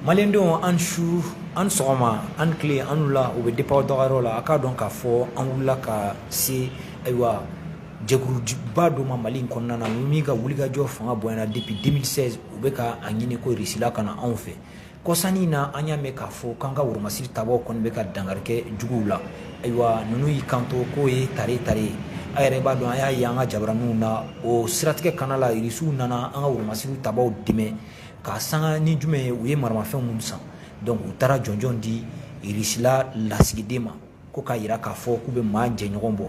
Malidenw ani su ani sɔgɔma ani tile ani wula o bɛ dépend aw dagayɔrɔ la a k'a dɔn k'a fɔ an wulila ka se ayiwa jɛkuluba dɔ ma mali in kɔnɔna na min ka wulikajɔ fanga bonyana depuis deux mille seize u bɛ ka a ɲini ko Irisila ka na anw fɛ kɔsa in na an y'a mɛn k'a fɔ k'an ka woromasiri tabagaw kɔni bɛ ka dankari kɛ juguw la ayiwa ninnu y'i kanto k'o ye tare tare ye a yɛrɛ b'a dɔn an y'a ye an ka jabaraninw na o siratigɛ kana la irisiw nana an ka woromasiri tabaaw dɛmɛ ka sanga ni jumɛn ye u ye maramafɛn minnu san donc u taara jɔnjɔn di irisila lasigiden ma ko k'a yira k'a fɔ k'u bɛ maa jɛɲɔgɔn bɔ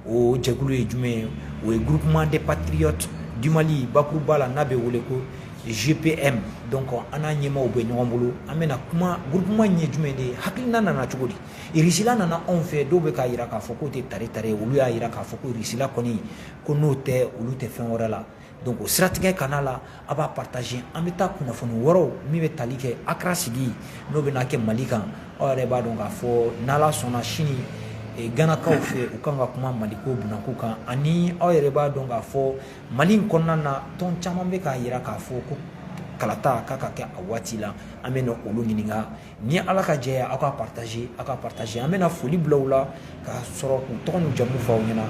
o jɛkulu ye jumɛn ye o ye groupement des patriotes du mali bakuruba la n'a bɛ wele ko gpm donc an n'a ɲɛmaaw bɛ ɲɔgɔn bolo an bɛna kuma groupement in ye jumɛn de ye hakilina nana cogo di Irisila nana anw fɛ dɔw bɛ k'a jira k'a fɔ k'o tɛ tare tare ye olu y'a jira k'a fɔ ko Irisila kɔni ko n'o tɛ olu tɛ fɛn wɛrɛ la donc o siratigɛ kan'a la aw b'a partager an bɛ taa kunnafoni wɛrɛw min bɛ tali kɛ Accra sigi n'o bɛna kɛ Mali kan aw yɛrɛ b'a dɔn k'a fɔ n'Ala sɔnna sini eh, ganakaw fɛ u kan ka kuma maliko bunako kan ani aw yɛrɛ b'a dɔn k'a fɔ mali in kɔnɔna na tɔn caman bɛ k'a jira k'a fɔ ko kalata kan ka kɛ a waati la an bɛna olu ɲininka ni ala ka jɛ aw k'a partager aw k'a partager an bɛna foli bila u la ka sɔrɔ k'u tɔgɔ n'u jamu fɔ aw ɲɛ na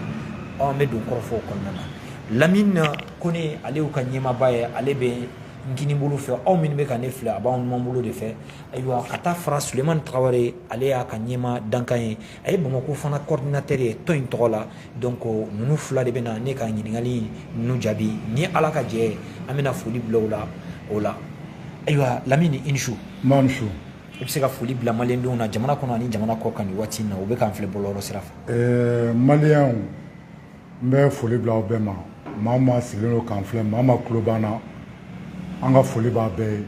an bɛ don kɔrɔfɔ o kɔnɔna na lamini kɔnɛ ale y'u ka ɲɛmaaba ye ale bɛ n kini bolo fɛ aw minnu bɛ ka ne filɛ a b'aw numan bolo de fɛ ayiwa ka taa fara sulemani tarawele ale y'a ka ɲɛmaa dankan ye a ye bamakɔ fana coordinateur ye tɔn in tɔgɔ la donc ninnu fila de bɛna ne ka ɲininkali ninnu jaabi ni ala ka jɛ an bɛna foli bila la o la ayiwa lamini i ni su nba su i bɛ se ka foli bila malidenw na jamana kɔnɔ ni jamana kɔkan nin waati na u bɛ k'an filɛ bɔlɔlɔ sira fɛ maliyɛnw n bɛ foli bila aw bɛɛ ma maa o maa sigilen don k'an filɛ maa o maa kulo b'an na an ka foli b'a bɛɛ ye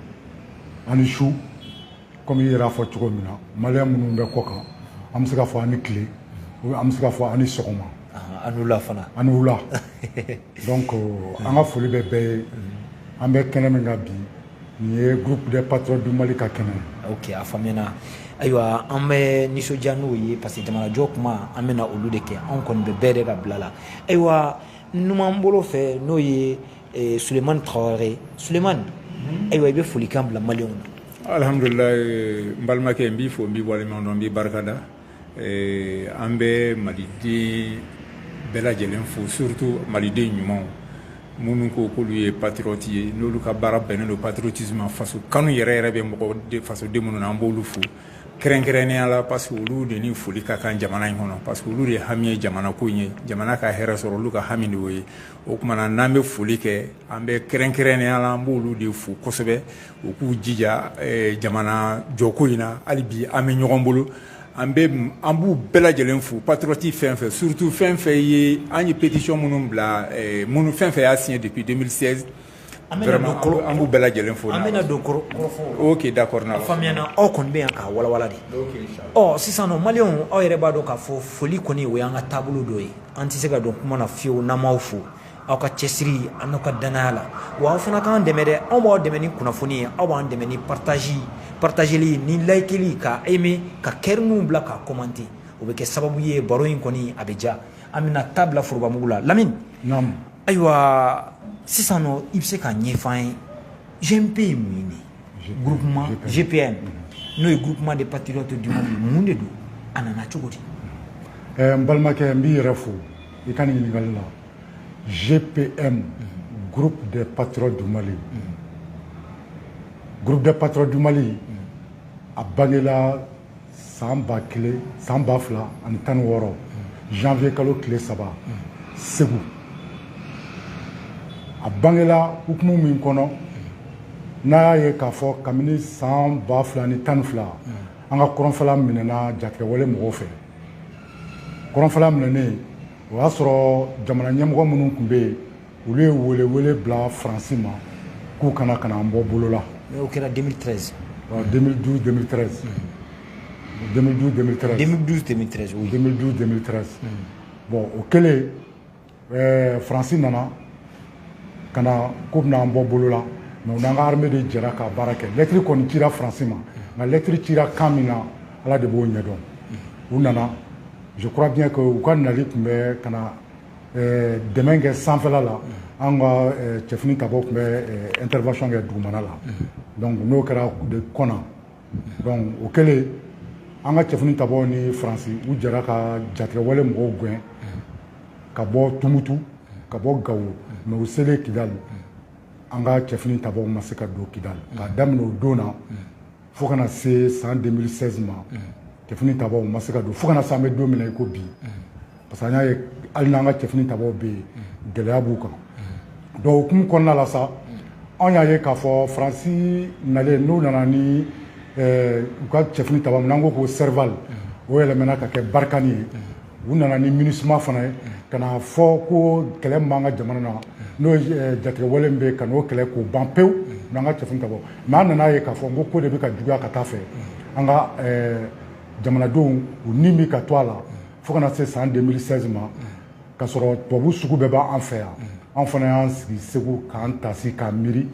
ani su kɔmi i yɛrɛ y'a fɔ cogo min na maliyɛn minnu bɛ kɔkan an bɛ se ka fɔ ani tile an bɛ se ka fɔ ani sɔgɔma ani wula fana ani wula donc euh, an ka foli bɛ bɛɛ ye an bɛ kɛnɛ min kan bi nin ye groupe des patriotes du Mali ka kɛnɛ ye ok a faamuyana ayiwa an bɛ nisɔndiya n'o ye parce que jamanajɔ kuma an bɛna olu de kɛ anw kɔni bɛ bɛɛ de ka bila la ayiwa numan bolo fɛ n'o ye eh, sulemani tarawele sulemani mhm. ayiwa i bɛ folikan bila maliyɛnw na alhamdulila eh, n balimakɛ n b'i fo n b'i waleɲuman dɔn n b'i barika da eh, an bɛ maliden bɛɛ lajɛlen fo surtout maliden ɲumanw minnu ko k'olu ye patriote ye n'olu ka baara bɛnnen don patriotisme ma faso kanu yɛrɛ yɛrɛ bɛ mɔgɔ fasoden minnu na an b'olu fo kɛrɛnkɛrɛnnenya la parce que olu de ni foli ka kan jamana in kɔnɔ parce que olu de hami ye jamana ko in ye jamana ka hɛrɛ sɔrɔ olu ka hami de y'o ye o tuma na n'an bɛ foli kɛ an bɛ kɛrɛnkɛrɛnnenya la an b'olu de fo kosɛbɛ u k'u jija jamana jɔko in na hali bi an bɛ ɲɔgɔn bolo an bɛ an b'u bɛɛ lajɛlen fo patriote fɛn fɛn surtout fɛn fɛn ye an ye pétition minnu bila minnu fɛn fɛn y'a siɲɛ depuis 2016 An bɛna don koro, vraiment an b'u bɛɛ lajɛlen fo, an bɛna don koro, korofɔw la, ok d'accord a faamuya na aw kɔni bɛ yan k'a walawala dɛ, ok inchallah ɔ sisan nɔ maliyɛnw aw yɛrɛ b'a dɔn k'a fɔ foli kɔni o y'an ka taabolo dɔ ye an tɛ se ka don kuma na fiyewu n'an m'aw fo aw ka cɛsiri a n'aw ka dannaya la wa aw fana k'an dɛmɛ dɛ anw b'aw dɛmɛ ni kunnafoni ye aw b'an dɛmɛ ni partage partageli ni layikeli ka aimer ka kɛriniw bila ka commenter o bɛ kɛ sababu ye baro in kɔni a bɛ diya an bɛna ta bila forobamugu la lamini ayiwa sisan nɔ i bɛ se k'a ɲɛfɔ an ye gpm ye mun de groupement gpm n'o ye groupement des patriotes du mali mun de don a nana cogo di n balimakɛ n b'i yɛrɛ fo i ka ɲininkali la gpm groupe des patriotes du mali groupe des patriotes du mali a bangela san ba kelen san ba fila ani tan ni wɔɔrɔ janvier kalo tile saba segu a bangela hukumu min kɔnɔ n'a y'a ye k'a fɔ kabini san ba fila ni tan ni fila an ka kɔrɔnfɛla minɛna jatigɛwale mɔgɔw fɛ kɔrɔnfɛla minɛnen o y'a sɔrɔ jamana ɲɛmɔgɔ minnu tun bɛ yen olu ye welewele bila faransi ma k'u ka na ka na an bɔ bolo la o kɛra 2013 2012 2013 2012 2013 2012 2013 oui 2012 2013 bon o kɛlen eh, faransi nana ka na k'u bɛna an bɔ bolo la mais u n'an ka armée de jɛra ka baara kɛ lɛtiri kɔni cira faransi ma nka lɛtiri cira kan min na ala de b'o ɲɛdɔn u nana je crois bien que u ka nali tun bɛ ka na dɛmɛ kɛ sanfɛla la an ka cɛfini tabaw tun bɛ intervention kɛ dugumana la donc n'o kɛra de kɔna donc o kɛlen an ka cɛfini tabaw ni faransi u jɛra ka jatigɛwale mɔgɔw gɛn ka bɔ tumutu ka bɔ gawo mais u selen kidali an ka cɛfini tabaw ma se ka don kidali ka daminɛ o don na fo ka na se san 2016 ma cɛfini tabaw ma se ka don fo ka na se an bɛ don min na i ko bi parce que an y'a ye hali n'an ka cɛfini tabaw bɛ yen gɛlɛya b'u kan donc o hukumu kɔnɔna la sa anw y'a ye k'a fɔ faransi nalen n'u nana ni eh, u ka cɛfini taba min n'an ko ko serval o yɛlɛmɛna ka kɛ barkhane ye u nana ni minisuma fana ye ka na fɔ ko kɛlɛ min b'an ka jamana na n'o ye jatigɛwale min bɛ ka n'o kɛlɛ k'o ban pewu u n'an ka cɛfini tabaw mais an nan'a ye k'a fɔ ko ko de bɛ ka juguya ka taa a fɛ an ka eh, jamanadenw u ni bɛ ka to a la fo ka na se san 2016 ma ka sɔrɔ tubabu sugu bɛɛ b'an fɛ yan an fana y'an sigi segu k'an tasi k'an miiri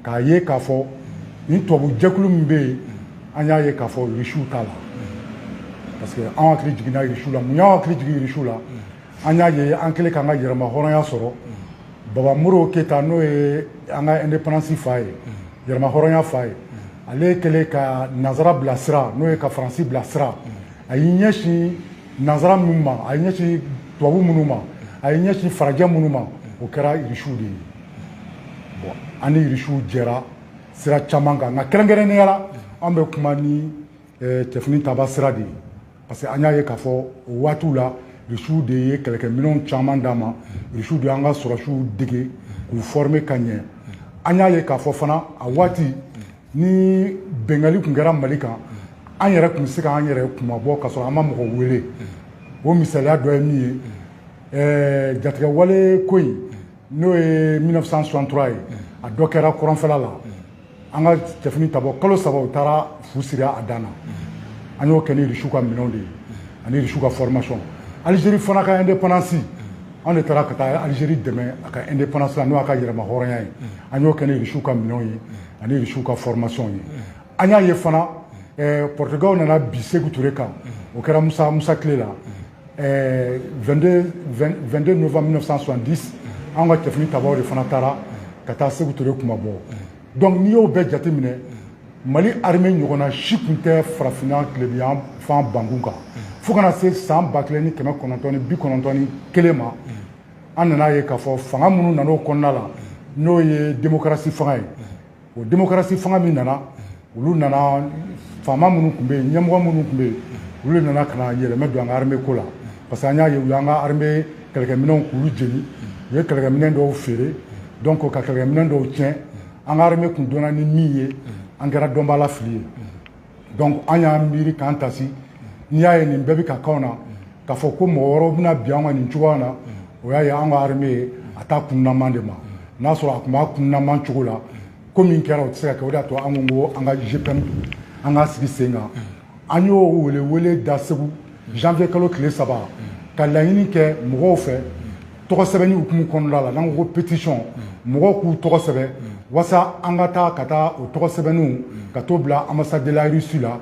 k'a ye k'a fɔ nin tubabu jɛkulu min bɛ yen an y'a ye k'a fɔ irisiw t'a la parce que an hakili jiginna irisiw la mun y'an hakili jigin irisiw la an y'a ye an kɛlen k'an ka yɛrɛma hɔrɔnya sɔrɔ baba modibo keyita n'o ye an ka indépendance fa ye yɛrɛma hɔrɔnya fa ye ale kɛlen ka nanzara bila sira n'o ye ka faransi bila sira a y'i ɲɛsin nanzara minnu ma a y'i ɲɛsin tubabu minnu ma a y'i ɲɛsin farajɛ minnu ma o kɛra irisiw de ye bon an ni irisiw jɛra sira caman kan nka kɛrɛnkɛrɛnnenya la an bɛ kuma ni eh, cɛfini taba sira de ye parce que an y'a ye k'a fɔ o waatiw la irisiw de ye kɛlɛkɛminɛnw caman d'an ma irisiw de y'an ka sɔrɔdasiw dege k'u forme ka ɲɛ an y'a ye k'a fɔ fana a waati ni binkanni tun kɛra mali kan an yɛrɛ tun bɛ se k'an yɛrɛ kunmabɔ ka sɔrɔ an ma mɔgɔ wele o misaliya dɔ ye min ye eh, jatigɛwale ko in n'o ye 1963 ye a dɔ kɛra kɔrɔnfɛla la an ka cɛfini tabaw kalo saba u taara fu siri a dan na an y'o kɛ ni irisiw ka minɛnw de ye ani irisiw ka formation Algérie fana ka indépendance anw de taara ka taa Algérie dɛmɛ a ka indépendance la n'o y'a ka yɛrɛma hɔrɔnya ye an y'o kɛ ni irisiw ka minɛnw ye ani irisiw ka formation ye an y'a ye fana eh, Portugal nana bin Sékou Touré kan o kɛra Musa Musa tile la ɛɛ 22 22 novembre 1970 an ka cɛfini tabaw de fana taara ka taa Seku Ture kunmabɔ donc n'i y'o bɛɛ jate minɛ Mali armée ɲɔgɔnna si tun tɛ farafinna tilebinyanfan bankun kan fo ka na se san ba kelen ni kɛmɛ kɔnɔntɔn ni bi kɔnɔntɔn ni kelen ma an nan'a ye k'a fɔ fanga minnu nan'o kɔnɔna la n'o ye démocratie fanga ye o démocratie fanga min nana olu nana faama minnu tun bɛ yen ɲɛmɔgɔ minnu tun bɛ yen olu nana ka na yɛlɛmɛ don an ka armée ko la parce que an y'a ye u y'an ka armée kɛlɛkɛminɛnw k'olu jeni u ye kɛlɛkɛminɛ dɔw feere donc ka kɛlɛkɛminɛ dɔw tiɲɛ an ka armée tun dɔnna ni min ye an kɛra dɔnbaafili ye donc an y'an miiri k'an tasi n'i y'a ye nin bɛɛ bɛ ka k'anw na k'a fɔ ko mɔgɔ wɛrɛw bɛna bin an kan nin cogoya na o y'a ye an ka armée ye a t'a kununaman de ma n'a sɔrɔ a tun b'a kununaman cogo la ko min kɛra o tɛ se ka kɛ o de y'a to an ko ko an ka GPM an k'a sigi sen kan an y'o welewele da Segu janvier kalo tile saba ka laɲini kɛ mɔgɔw fɛ tɔgɔ sɛbɛnni hukumu kɔnɔna la n'an ko pétition mɔgɔw k'u tɔgɔ sɛbɛn walasa an ka taa ka taa o tɔgɔ sɛbɛnniw ka t'o bila ambassade de la Russie la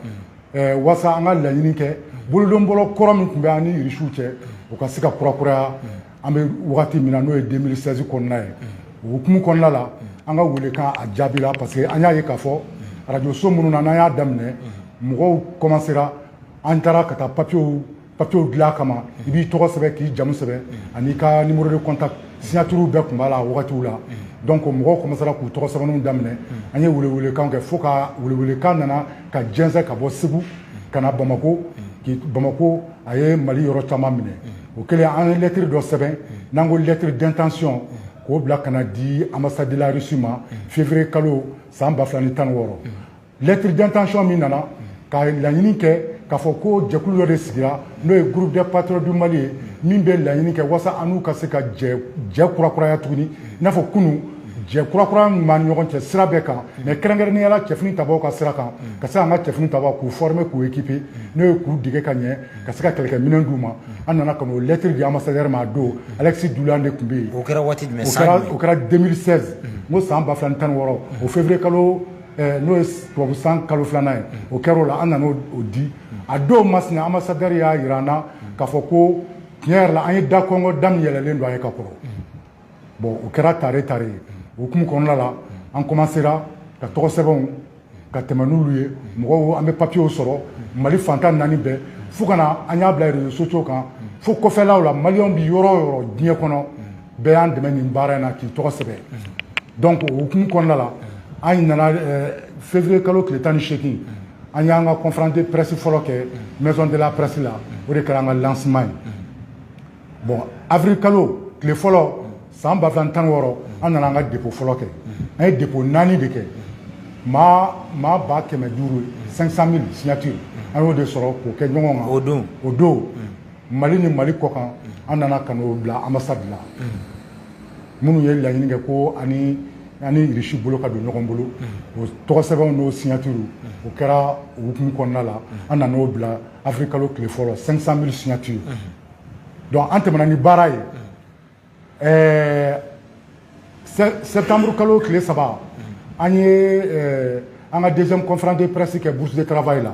eh, walasa an ka laɲini kɛ bolodonbolo kɔrɔ min tun bɛ an ni Rusiw cɛ o ka se ka kurakuraya an bɛ wagati min na n'o ye 2016 kɔnɔna ye o hukumu kɔnɔna la an ka welekan a jaabira parce que an y'a ye k'a fɔ arajo so minnu na n'an y'a daminɛ mɔgɔw kɔmansera an taara ka taa papiyew papiyew dilan kama i b'i tɔgɔ sɛbɛn k'i jamu sɛbɛn an'i ka numéro de contact signatures bɛɛ tun b'a la wagatiw la donc mɔgɔw kɔmansera k'u tɔgɔ sɛbɛnniw daminɛ an ye welewelekan kɛ fo ka welewelekan nana ka jɛnsɛn ka bɔ Segu ka na Bamako k'i Bamako a ye Mali yɔrɔ caman minɛ o kɛlen an ye lɛtiri dɔ sɛbɛn n'an ko lɛtiri d'intention k'o bila ka n'a di ambassade de la Russie ma février kalo san ba fila ni tan ni wɔɔrɔ lɛtiri d'intention min nana ka laɲini kɛ k'a fɔ ko jɛkulu dɔ de sigira n'o ye groupe des patriotes du mali ye min bɛ laɲini kɛ wasa an n'u ka se ka jɛ kurakuraya tuguni i n'a fɔ kunu jɛ kurakuraya min b'an ɲɔgɔn cɛ sira bɛɛ kan mɛ kɛrɛnkɛrɛnnenya la cɛfini tabaw ka sira kan ka se an ka cɛfini tabaw k'u former k'u équiper n'o ye k'u dege ka ɲɛ ka se ka kɛlɛkɛ minɛn d'u ma an nana ka n'o lɛtiri di ambassadeur ma a don Alexis Doulian de tun bɛ yen o kɛra waati jumɛn san jumɛn o kɛra 2016 n ko san ba fila ni tan ni wɔɔrɔ o février kalo n'o ye tubabu san kalo filanan ye o kɛra o la an nana o di a don masina ambassadeur y'a jira an na k'a fɔ ko tiɲɛ yɛrɛ la an ye da kɔnkɔn da min yɛlɛlen don an ye ka kɔrɔ bon o kɛra tare tare ye o hukumu kɔnɔna la an kɔmansera ka tɔgɔ sɛbɛnw ka tɛmɛ n'olu ye mɔgɔw an bɛ papiyew sɔrɔ mali fan tan naani bɛɛ fo ka na an y'a bila réseaux sociaux kan fo kɔfɛlaw la maliyɛnw bɛ yɔrɔ o yɔrɔ diɲɛ kɔnɔ bɛɛ y'an dɛmɛ nin baara in na k'i tɔgɔ sɛbɛn donc o hukumu kɔnɔna la an nana eh, février kalo tile tan ni seegin an y'an ka conférence de presse fɔlɔ kɛ maison de la presse la o de kɛra an ka lancement ye bon avril kalo tile fɔlɔ san ba fila ni tan ni wɔɔrɔ an nana an ka dépôt fɔlɔ kɛ an ye dépôt naani de kɛ maa maa ba kɛmɛ duuru 500 000 signature an y'o de sɔrɔ k'o kɛ ɲɔgɔn kan o don o don mali ni mali kɔkan an nana ka n'o bila ambassade la minnu ye laɲini kɛ ko an ni an ni irisi bolo ka don ɲɔgɔn bolo o tɔgɔ sɛbɛnw n'o signature o kɛra o hukumu kɔnɔna la an nan'o bila avril kalo tile fɔlɔ 500 000 signatures donc an tɛmɛna ni baara ye ɛɛ septembre kalo tile saba an ye an ka deuxième conférence de presse kɛ bourse de travail la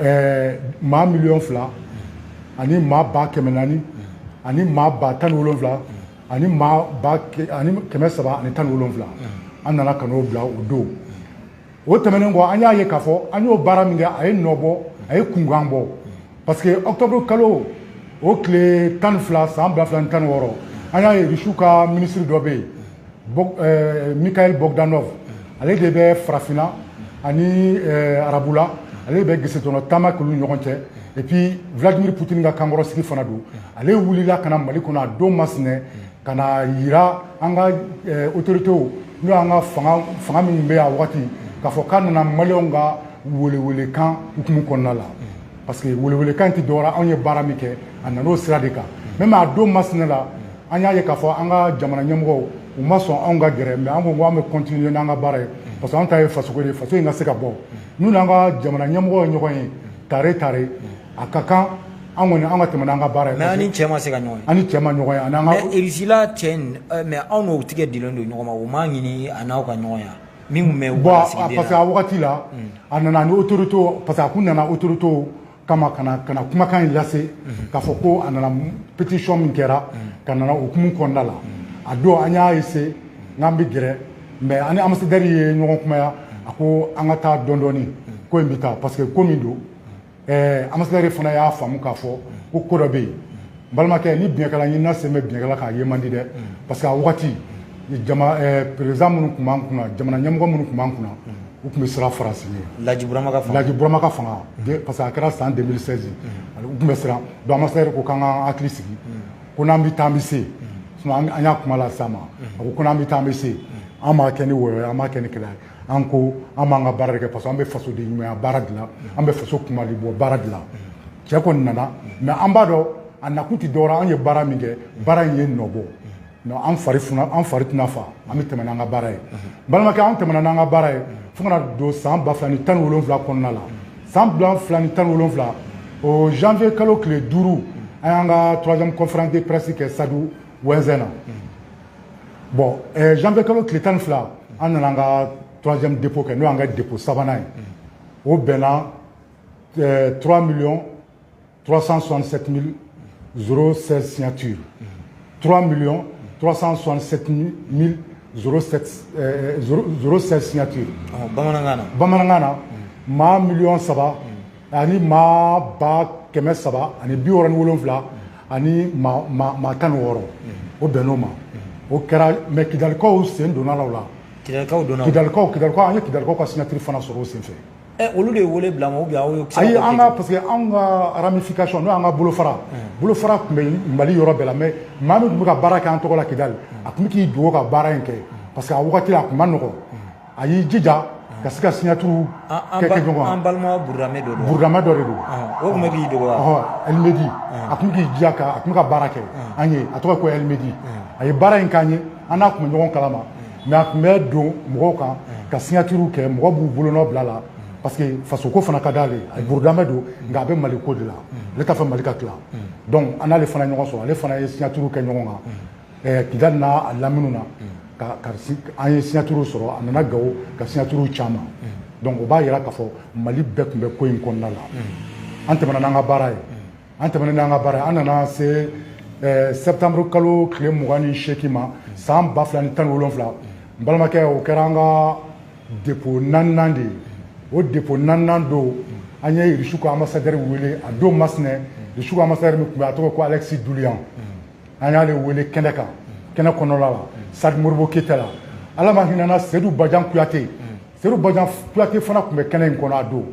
ɛɛ maa miliyɔn fila ani maa ba kɛmɛ naani ani maa ba tan ni wolonwula ani maa ba ani kɛmɛ saba ani tan ni wolonwula an nana ka n'o bila o don o tɛmɛnen kɔ an y'a ye k'a fɔ an y'o baara min kɛ a ye nɔ bɔ a ye kunkan bɔ parce que octobre kalo o tile tan ni fila san ba fila ni tan ni wɔɔrɔ an y'a ye risiw ka minisiri dɔ bɛ yen euh, Mikhail Bogdanov ale de bɛ farafinna ani euh, arabula ale bɛ gesetɔnɔ taama k'olu ɲɔgɔn cɛ et puis Vladimir Poutine ka kankɔrɔsigi fana don ale wulila ka na Mali kɔnɔ a don masina ka n'a yira an ka euh, autorités n'o y'an ka fanga fanga minnu bɛ yan wagati k'a fɔ k'a nana maliyɛnw ka welewelekan hukumu kɔnɔna la parce que welewelekan tɛ dɔwɛrɛ anw ye baara min kɛ a nan'o sira de kan même a don masina la an y'a ye k'a fɔ an ka jamana ɲɛmɔgɔw u ma sɔn anw ka gɛrɛ ma an ko ko an bɛ continuer n'an ka baara ye parce que an ta ye fasoko de faso in ka se ka bɔ n'u n'an ka jamana ɲɛmɔgɔ ye ɲɔgɔn ye tare tare a ka kan an kɔni an ka tɛmɛ n'an ka baara ye mais ni cɛ ma se ka ɲɔgɔn ye ani cɛ ma ɲɔgɔn ye ani an ka mɛ irisila cɛ mais anw n'o tɛgɛ dilen don ɲɔgɔn ma u m'a ɲini a n'aw ka ɲɔgɔn ye min tun bɛ bɔn parce que a wagati la a nana ni autorité parce que a tun nana autorité kama ka na ka na kumakan in lase k'a fɔ ko a nana pétition min kɛra k'a nana o hukumu kɔnɔna la a don an y'a essayer n'an bɛ gɛrɛ mais an ni ambassadeur ye ɲɔgɔn kumaya a ko an ka taa dɔɔni dɔɔni ko in bɛ taa parce que ko min don ɛɛ ambassadeur fana y'a faamu k'a fɔ ko ko dɔ bɛ yen balimakɛ ni biyɛnkala ɲinina sen bɛ biyɛnkala kan a ye man di dɛ parce que a wagati jama eh, perezan minnu tun b'an kunna jamana ɲɛmɔgɔ minnu tun b'an kunna u tun bɛ siran faransi ɲɛ laji burama ka fanga laji burama ka fanga parce que a kɛra san 2016 u tun bɛ siran donc ambassadeur ko k'an ka hakili sigi ko n'an bɛ taa an bɛ se an y'a kuma lase a ma a ko ko n'an bɛ taa an bɛ se an b'a kɛ ni wɔyɔ an b'a kɛ ni kɛlɛ ye an ko an b'an ka baara de kɛ parce que an bɛ faso de ɲumanya baara de la an bɛ faso kunmali bɔ baara de la cɛ kɔni nana mais an b'a dɔn a nakun tɛ dɔwɛrɛ an ye baara min kɛ baara in ye nɔ bɔ an fari an fari tɛna fa an bɛ tɛmɛ n'an ka baara ye balimakɛ an tɛmɛna n'an ka baara ye fo ka na don san ba ni tan ni wolonwula kɔnɔna la san fila ni tan ni wolonwula o janvier kalo tile duuru an y'an ka troisième conférence de presse kɛ stade Ouezzin na bon janvier kalo tile tan ni fila an nana an ka troisième dépôt kɛ n'o an ka dépôt sabanan ye o bɛnna 3 millions 367 mille 016 signature 3 millions 367 mille 016 eh, signature oh, bamanankan na bamanankan na maa miliyɔn saba ani maa ba kɛmɛ saba ani bi wɔɔrɔ ni wolonwula ani maa tan ni wɔɔrɔ o bɛnn'o ma o kɛra même kidalikaw sen donn'a la o la kidalikaw donna kidalikaw kidalikaw an ye kidalikaw ka signature fana sɔrɔ o senfɛ Olu de wele bila ayi parce que anw ka ramification n'o y'an ka bolo fara bolo fara tun bɛ mali yɔrɔ bɛɛ la mɛ maa min tun bɛ ka baara kɛ an tɔgɔ la kidal a tun bɛ k'i dogo ka baara in kɛ parce que a waati la a tun man nɔgɔ a y'i jija ka se ka signature kɛ ɲɔgɔn kan burudamɛ dɔ de don a tɔgɔ ko almedi a tun k'i diya a tun ka baara kɛ an ye a tɔgɔ ko almedi a ye baara in kɛ an ye an n'a tun bɛ ɲɔgɔn kalama mɛ a tun bɛ don mɔgɔw kan ka signature kɛ mɔgɔ b'u bolonɔ bila parce que fasoko fana ka di ale ye burudamɛ don nka a bɛ mali ko de la ale t'a fɛ mali ka tila donc an n'ale fana ɲɔgɔn sɔrɔ ale fana ye signature kɛ ɲɔgɔn kan kidal n'a lamini na an ye signature sɔrɔ an nana gawo ka signature caman donc o b'a jira k'a fɔ mali bɛɛ tun bɛ ko in kɔnɔna la an tɛmɛna n'an ka baara ye an tɛmɛna n'an ka baara an nana se eh, septembre kalo tile mugan ni seegin ma san ba fila ni tan ni wolonfila n balimakɛ o kɛra an ka depo naaninan de ye o depo naaninan don an ye irisiw ka ambasadɛri wele a don masinɛ irisiw ka ambasadɛri min tun bɛ a tɔgɔ ko alexi dulian an y'ale wele kɛnɛ kan kɛnɛ kɔnɔna la stade modibo keyita la ala ma hinɛ a la sedu bajan kuyate sedu bajan kuyate fana tun bɛ kɛnɛ in kɔnɔ a don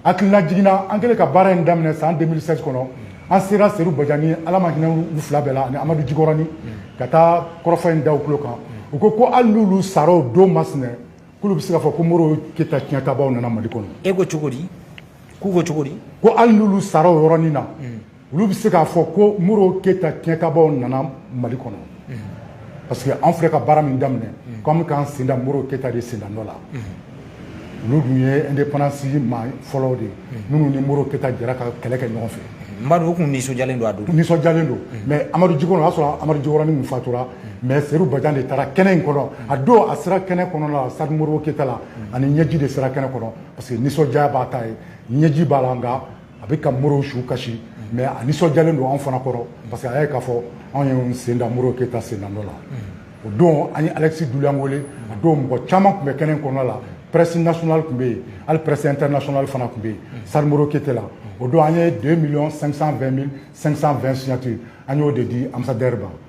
Hakililajigin na an kɛlen ka baara in daminɛ san deux mille seize kɔnɔ an sera sedu bajan ni ala ma hinɛ u fila bɛɛ la ani amadu jikɔrɔnin ka taa kɔrɔfɔ in da u tulo kan u ko ko hali n'olu sara o don masina k'olu bɛ se k'a fɔ ko modibo keyita tiɲɛtabaaw nana mali kɔnɔ e ko cogo di k'u ko cogo di ko hali n'olu sara o yɔrɔnin na olu bɛ se k'a fɔ ko modibo keyita tiɲɛtabaaw nana mali kɔnɔ parce que an filɛ ka baara min daminɛ k' an bɛ k'an sen da modibo keyita de sendanɔ la olu dun ye indépendance maa fɔlɔ de ye minnu ni modibo keyita jɛra ka kɛlɛ kɛ ɲɔgɔn fɛ u tun nisɔndiyalen don a don nisɔndiyalen don mɛ amadu j y'a sɔrɔ amadu tun fatura mɛ sedu bajan de taara kɛnɛ in kɔnɔ a don a sera kɛnɛ kɔnɔ stade modibo keyita la ani ɲɛji de sera kɛnɛ kɔnɔ parce que nisɔndiya b'a ta ye ɲɛji b'a la a bɛ ka modibo su kasi mɛ a nisɔndiyalen don anw fana kɔrɔ parce que a y'a ye k'a fɔ anw y'an sen da modibo keyita sendanɔ la o don an ye alexi dulian wele a don mɔgɔ caman tun bɛ kɛnɛ kɔnɔna la presse nationale tun bɛ yen hali presse internationale fana tun bɛ yen stade modibo keyita la o don an ye deux millions cinq cent deux mille cinq cent deux signature an y'o de di ambasadɛri ma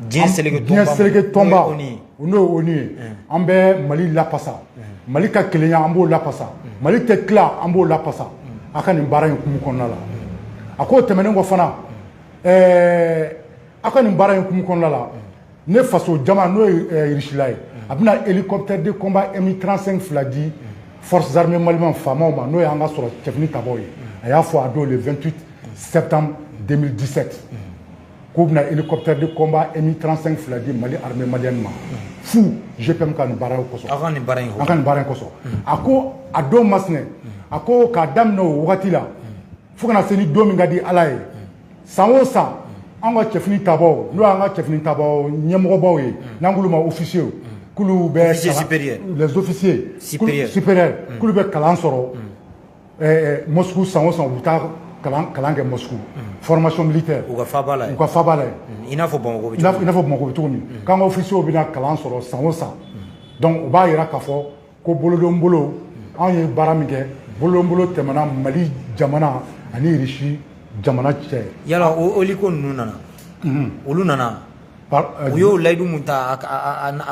diɲɛ seleke tɔnba n'o ye ONU ye an bɛ mali lafasa mali ka kelenya an b'o lafasa mali tɛ tila an b'o lafasa a ka nin baara in tun b'o kɔnɔna la a k'o tɛmɛnen kɔ fana ɛɛ aw ka nin baara in tun b'o kɔnɔna la ne faso jama n'o ye irisila ye a bɛna hélicoptère de combat mi trente-cinq fila di forces armées maliennes FAMa ma n'o y'an ka sɔrɔdasi finitabaw ye a y'a fɔ a don le vingt-huit septembre deux mille dix-sept k'u bɛna hélicoptère de combat Mi 35 fila di Mali armée malienne ma fu GPM ka nin baara kosɔn aw ka nin baara in kosɔn aw ka nin baara in kosɔn a ko a don masina a ko k'a daminɛ o wagati la fo ka na se ni don min ka di Ala ye san o san an ka cɛfini tabaaw n'o y'an ka cɛfini tabaaw ɲɛmɔgɔbaw ye n'an k'olu ma officiers k'olu bɛ les officiers supérieurs k'olu bɛ kalan sɔrɔ Ɛɛ Moscou san o san u bɛ taa kalan kɛ Moscou formation militaire u ka faaba la yen, u ka faaba la yen, i n'a fɔ Bamakɔ bɛ cogo min, i n'a fɔ Bamakɔ bɛ cogo min, unhun, k'an ka officiers bɛna kalan sɔrɔ san o san, unhun, donc o b'a jira k'a fɔ ko bolodonbolo anw ye baara min kɛ bolodonbolo tɛmɛna Mali jamana ani Russie jamana cɛ, yala o hélico ninnu nana, unhun, olu nana U y'o layidu min ta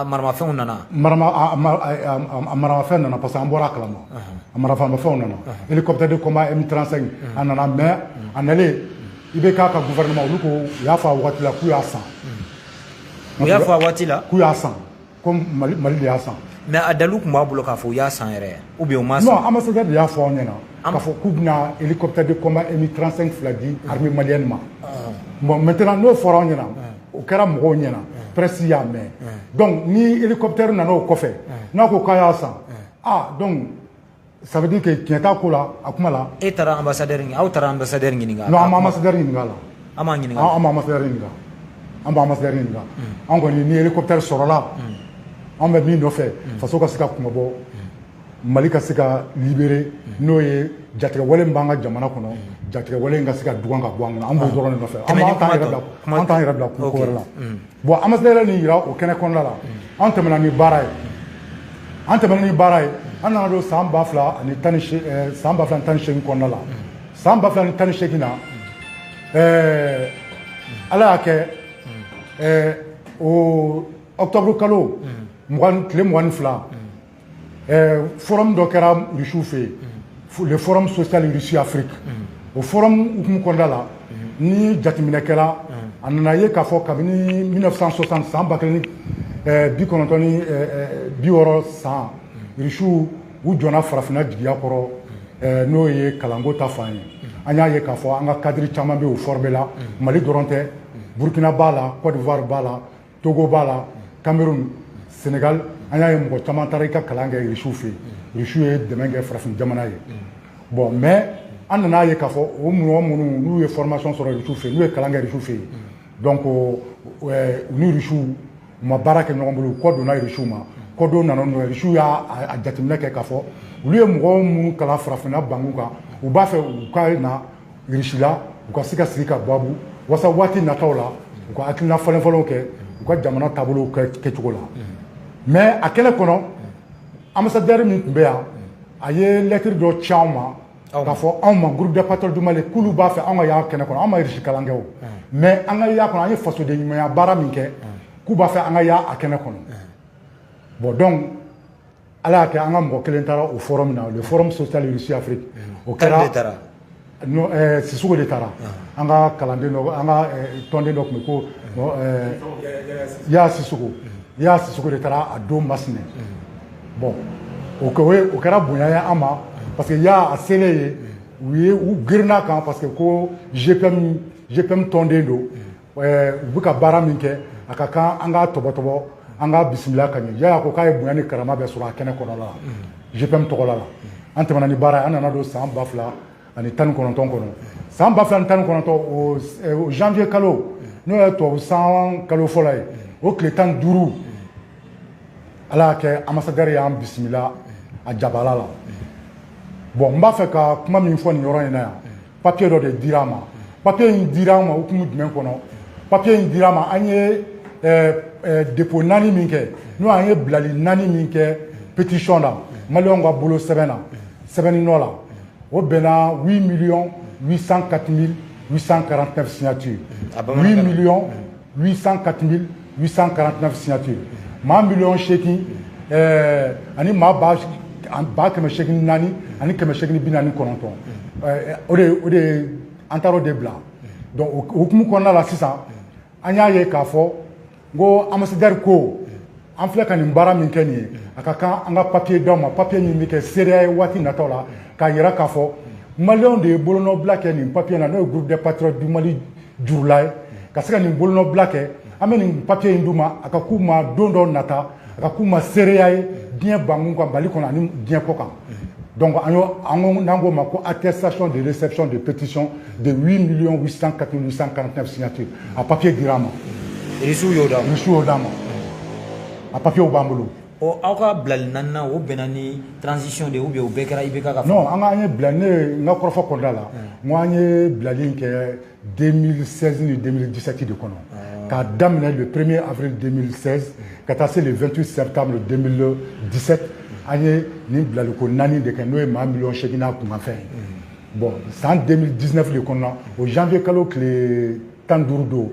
maramafɛnw nana maramafɛn nana parce que an bɔra a kalama a maramafɛnw nana hélicoptère de combat Mi 35 nana mais a nalen IBK ka gouvernement olu ko u y'a fɔ a waati la k'u y'a san u y'a fɔ a waati la k'u y'a san ko mali mali de y'a san mais a dalilu tun b'a bolo k'a fɔ u y'a san yɛrɛ ou bien u m'a san non ambassadeur de y'a fɔ an ɲɛna k'a fɔ k'u bɛna hélicoptère de combat mi 35 fila di armée malienne ma ah. bon maintenant n'o fɔra an ɲɛna ah. o kɛra mɔgɔw ɲɛna ah. presse y'a mɛn donc ni hélicoptère nana o kɔfɛ n'a ko k'a y'a san ah donc ça veut dire que tiɲɛ t'a ko la a kuma la e taara ambassadeur ɲininka aw taara ambassadeur ɲininka non an ma ambassadeur ɲininka a la an m'a ɲininka an ma ambassadeur ɲininka an b'a ambassadeur ɲininka an kɔni ni hélicoptère sɔrɔla an bɛ min nɔfɛ faso ka se ka kunmabɔ mali ka se ka libérer n'o ye jatigɛwale min b'an ka jamana kɔnɔ jatigɛwale in ka se ka dugan ka bɔ an kɔnɔ an b'o dɔrɔn de nɔfɛ an t'an yɛrɛ bila ko wɛrɛ la Bon ambassadeur ye nin jira o kɛnɛ kɔnɔnada la an tɛmɛna ni baara ye an tɛmɛna ni baara ye an nana don san ba fila ani tan san ba fila ni tan ni seegin kɔnɔnada la san ba fila ni tan ni seegin na ɛɛ ala y'a kɛ ɛɛ o octobre kalo tile mugan ni fila Eh, forum dɔ kɛra rusiw fɛ yen le forum social russie afrique o forum hukumu kɔnɔna la ni jateminɛ kɛra a nana ye k'a fɔ kabini 1960 san ba kelen eh, bi kɔnɔntɔn ni eh, bi wɔɔrɔ san rusiw u jɔnna farafinna jigiya kɔrɔ n'o ye kalanko ta fan ye an y'a ye k'a fɔ an ka kadiri caman bɛ o formé la mali dɔrɔn tɛ burkina b'a la cote d'ivoire b'a la togo b'a la cameroun sénégal an y'a ye mɔgɔ caman taara u ka kalan kɛ risiw fɛ yen risiw ye dɛmɛ kɛ farafin jamana ye bon mais an nan'a ye k'a fɔ o mɔgɔ minnu n'u ye formation sɔrɔ risiw fɛ yen n'u ye kalan kɛ risiw fɛ yen donc u ni risiw u ma baara kɛ ɲɔgɔn bolo u kɔ donna risiw ma kɔdon nana nɔ risiw y'a jateminɛ kɛ k'a fɔ olu ye mɔgɔ minnu kalan farafinna banku kan u b'a fɛ u ka na irisi la u ka se ka sigi ka babu waasa waati nataw la u ka hakilina falenfalen kɛ u ka jamana taabolo kɛcogo la mɛ a kɛnɛ kɔnɔ anbasadɛri min tun bɛ yan a ye lɛtiri dɔ ci anw ma k'a fɔ anw ma groupe des patriotes du mali k'olu b'a fɛ anw ka y'a kɛnɛ kɔnɔ an ma irisi kalan kɛ o mɛ an ka y'a kɔnɔ an ye fasoden ɲumanya baara min kɛ k'u b'a fɛ an ka y'a a kɛnɛ kɔnɔ bɔn dɔn ala y'a kɛ an ka mɔgɔ kelen taara o forum na le forum social russie afrique o kɛra eh, sisoko de taara ah. an ka kalanden dɔ an ka eh, tɔnden dɔ tun bɛ ko eh, yaya sisoko mm. yaya sisoko de taara a don masinɛ mm. bɔn o o kɛra bonya ye an ma mm. parce que yaya selen yen u ye u girinna a kan parce que ko gpm gpm tɔnden don Eh, u bɛ ka baara min kɛ a ka kan an k'a tɔbɔtɔbɔ an k'a bisimila ka ɲɛ yaya ko k'a ye bonya ni karama bɛɛ sɔrɔ a kɛnɛ kɔnɔla la gpm mhm. tɔgɔla la an tɛmɛna ni baara ye an nana don san ba fila ani tan ni kɔnɔntɔn kɔnɔ san ba fila ni tan ni kɔnɔntɔn o eh, janvier kalo mhm. n'o ye tubabu san kalo fɔlɔ ye mhm. o tile tan duuru ala y'a kɛ anbasadɛri y'an bisimila a jabala la bɔn n b'a fɛ ka kuma min fɔ nin yɔrɔ in na yan papiye dɔ de dira an ma papiye in dira an ma hukumu jumɛn kɔnɔ papiye in dira an ma an ye depo naani min kɛ n'o an ye bilali naani min kɛ petisiyɔn na maliyɛnw ka bolo sɛbɛn na sɛbɛnni nɔ la o bɛnna huit miliyɔn huit cent quatre mille huit cent quarante neuf signature huit miliyɔn 804,849 signature maa miliyɔn seegin eh, ani maa ba ba kɛmɛ seegin naani ani kɛmɛ seegin bi naani kɔnɔntɔn eh, o de o de an taara o de bila donc o hukumu kɔnɔna la sisan an y'a ye k'a fɔ ko ambassadeur ko an filɛ ka nin baara min kɛ nin ye a ka kan an ka papier d'aw ma papier min bɛ kɛ seereya ye waati nataw la k'a yira k'a fɔ maliyɛnw de ye bolonɔbila kɛ nin papier na n'o ye groupe des patriotes du mali jurula ye ka se ka nin bolonɔbila kɛ an bɛ nin papiye in d'u ma a ka k'u ma don dɔ nata a ka k'u ma seereya ye diɲɛ bankun kan mali kɔnɔ ani diɲɛ kɔ kan donc an y'o an ko n'an k'o ma ko attestation de réception de pétition de 8 millions 804,849 signatures a papiye dira an ma irisiw y'o d'an ma a papiyew b'an bolo Ɔ aw ka bilali naani o bɛnna ni tranzsi de u bɛ u bɛɛ kɛra i bɛ kan ka fɔ an ka ye bila ne ye n ka kɔrɔfɔ kɔda la n an ye bilali in kɛ den sɛsin ni denmisɛnninsɛti de kɔnɔ k'a daminɛ de perere a bɛ den ka taa se vtu sɛ tan disɛ an ye nin bilali ko naani de kɛ n'o ye maa mi seginna kunkanfɛn bɔn san den diinɛfi kɔnɔ o janfe kalo tile tan duuru don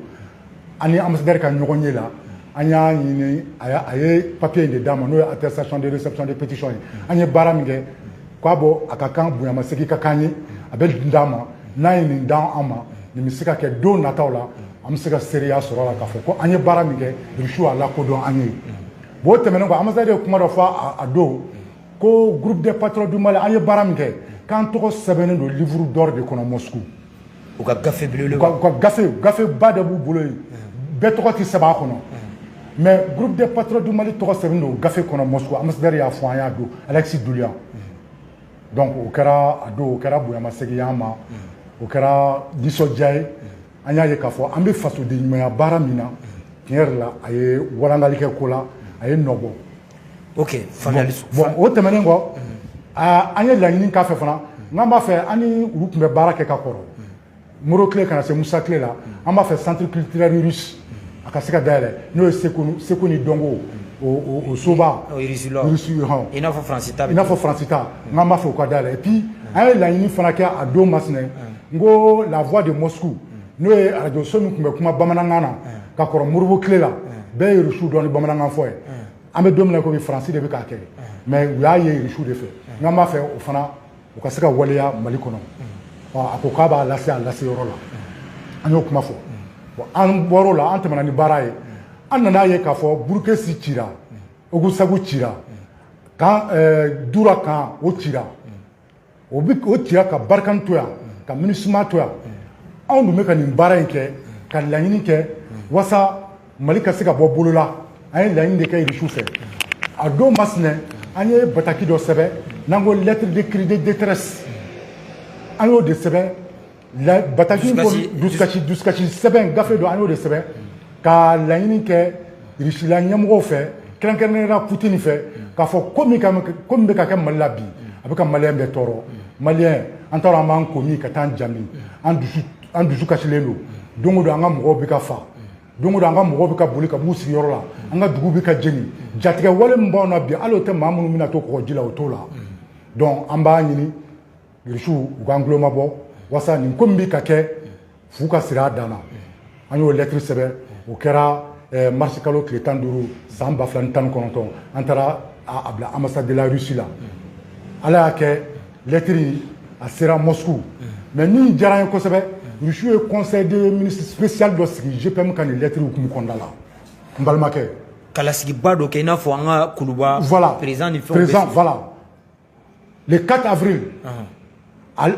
an ni ambassadeur ka ɲɔgɔn ye la an y'a ɲini a ye papier in de d'a ma n'o ye attestation de réception de pétition ye an ye baara min kɛ k'a bɔ a ka kan bonyamasegin ka kan ye a bɛ nin d'a ma n'a ye nin d'an an ma nin bɛ se ka kɛ don nataw la an bɛ se ka seereya sɔrɔ a la k'a fɔ ko an ye baara min kɛ Russie y'a lakodɔn an ye bon o tɛmɛnen kɔ ambassadeur ye kuma dɔ fɔ a don ko groupe des patriotes du Mali an ye baara min kɛ k'an tɔgɔ sɛbɛnnen don livre d'or de kɔnɔ Moscou u ka gafe belebele u ka gafe gafe ba de b'u bolo yen bɛɛ tɔgɔ tɛ sɛbɛn a kɔnɔ mais groupe des patriotes du Mali tɔgɔ sɛbɛn don gafe kɔnɔ Moscou ambassadeur y'a fɔ an y'a don Alexis Dulian donc o kɛra a don o kɛra bonyamasegin y'an ma o kɛra nisɔndiya ye an y'a ye k'a fɔ an bɛ fasoden ɲumanya baara min na tiɲɛ yɛrɛ la a ye walangali kɛ ko la a ye nɔ bɔ Bon o tɛmɛnen kɔ an ye laɲini k'a fɛ fana n k'an b'a fɛ an ni olu tun bɛ baara kɛ ka kɔrɔ moribo tile ka na se musa tile la an b'a fɛ centre culturel russe a ka se ka dayɛlɛ n'o ye seko ni dɔnko o soba i n'a fɔ faransi ta n k'an b'a fɛ u k'a dayɛlɛ et puis an ye laɲini fana kɛ a don masinɛ n ko la voix de moscou n'o ye arajo so min tun bɛ kuma bamanankan na ka kɔrɔ moribo tile la bɛɛ ye rusu dɔn ni bamanankan fɔ ye an bɛ don min na komi faransi de bɛ k'a kɛ mɛ u y'a ye rusu de fɛ n k'an b'a fɛ o fana u ka se ka waleya mali kɔnɔ a ko k'a b'a lase a lase yɔrɔ la an y'o kuma fɔ an bɔr'o la an tɛmɛna ni baara ye an nana ye k'a fɔ burukesi cira ogosagu cira kan jura kan o cira o bɛɛ o cira ka barikani to yan ka minusima to yan anw dun bɛ ka nin baara in kɛ ka laɲini kɛ waasa mali ka se ka bɔ bolo la an ye laɲini de kɛ irisiw fɛ a don masinɛ an ye bataki dɔ sɛbɛn n'an ko lettre de cri de détresse an y'o de sɛbɛn la bataki in Dusukasi- ko dusukasi dusukasi sɛbɛn gafe don an y'o de sɛbɛn ka laɲini kɛ risila ɲɛmɔgɔw fɛ kɛrɛnkɛrɛnnenya la putin fɛ k'a fɔ ko min ka ko min bɛ ka kɛ mali la bi a bɛ ka maliyɛn bɛɛ tɔɔrɔ maliyɛn an t'a dɔn an b'an ko min ka taa an jami an dusu an dusu kasilen don don o don an ka mɔgɔw bɛ ka fa don o don an ka mɔgɔw bɛ ka boli ka b'u sigiyɔrɔ la an ka dugu bɛ ka jeni jatigɛwale min b'anw na bi hali o tɛ maa minnu bɛna to kɔgɔji la o t'o la donc an b'a ɲini irisiw u k'an tuloma bɔ waasa nin ko min bɛ ka kɛ fu ka siri a dan na an y'o lɛtiri sɛbɛn o kɛra eh, marisi kalo tile tan duuru san ba fila ni tan ni kɔnɔntɔn an taara a bila ambassade de la russie la ala y'a kɛ lɛtiri a sera moscou mɛ min diyara n ye kosɛbɛ rusiw ye conseil de ministre spécial dɔ sigi gpm ka nin lɛtiri hukumu kɔnɔna la n balimakɛ ka lasigiba dɔ kɛ i n'a fɔ an ka kuluba voilà président ni fɛnw voilà le 4 avril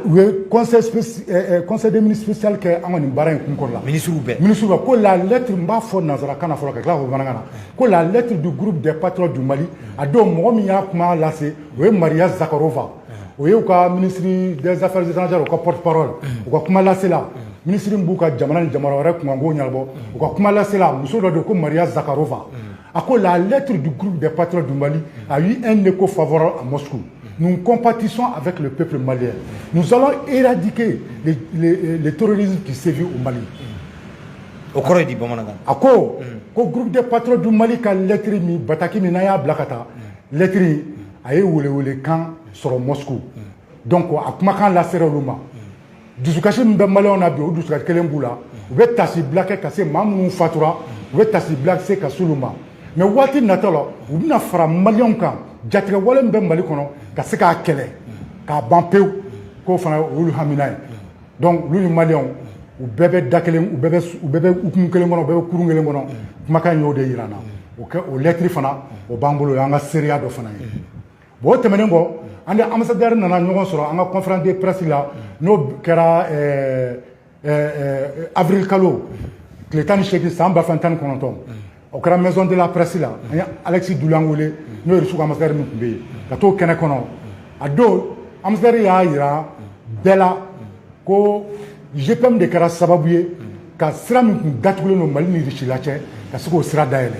u ye conseil eh, eh, des ministres spécial kɛ an ka nin baara in kunko la ministres bɛɛ ministres bɛɛ ko la lettre n b'a fɔ nanzarakan na fɔlɔ ka tila k'a fɔ bamanankan na ko la lettre du groupe des patriotes du Mali a don mɔgɔ min y'a kuma lase o ye Maria Zakharova o ye u ka ministre des affaires étrangères u ka porte parole u ka kumalasela ministre min b'u ka jamana ni jamana wɛrɛ kunkanko ɲɛnabɔ u ka kumalasela muso dɔ don ko Maria Zakharova A ko la lettre du groupe des patriotes du Mali a eu un écho favorable à Moscou. Nous compatissons avec le peuple malien. Nous allons éradiquer le, le, le terrorisme qui sévit au Mali. O kɔrɔ ye di bamanankan na a ko ko groupe des patriotes du mali ka lɛtiri min bataki min n'an y'a bila ka taa lɛtiri a ye welewele kan sɔrɔ moscou donc a kumakan lasera olu ma dusukasi min bɛ maliw na bi o dusukasi kelen b'u la u bɛ taasibila kɛ ka se maa minnu fatura u bɛ taasibila se ka sulu ma mɛ waati natɔ la u bɛna fara maliw kan jatigɛwale min bɛ mali kɔnɔ ka se k'a kɛlɛ k'a ban pewu k'o fana olu hamina ye donc olu ni maliw u bɛɛ bɛ da kelen u bɛɛ bɛ hukumu kelen kɔnɔ u bɛɛ bɛ kurun kelen kɔnɔ kumakan y'o de jira an na o kɛ o lɛtiri fana o b'an bolo o y'an ka seereya dɔ fana ye Bon o tɛmɛnen kɔ an ni ambassadeur nana ɲɔgɔn sɔrɔ an ka conférence de presse la n'o kɛra avril kalo tile tan ni segin san ba fila tan ni kɔnɔntɔn o kɛra Maison de la Presse la an ye Alexeï Doulian wele n'o ye irisi ka ambassadeur min tun bɛ yen ka t'o kɛnɛ kɔnɔ a don ambassadeur y'a jira bɛɛ la ko gpm de kɛra sababu ye ka sira min tun datugulen don mali ni irisila cɛ ka se k'o sira dayɛlɛ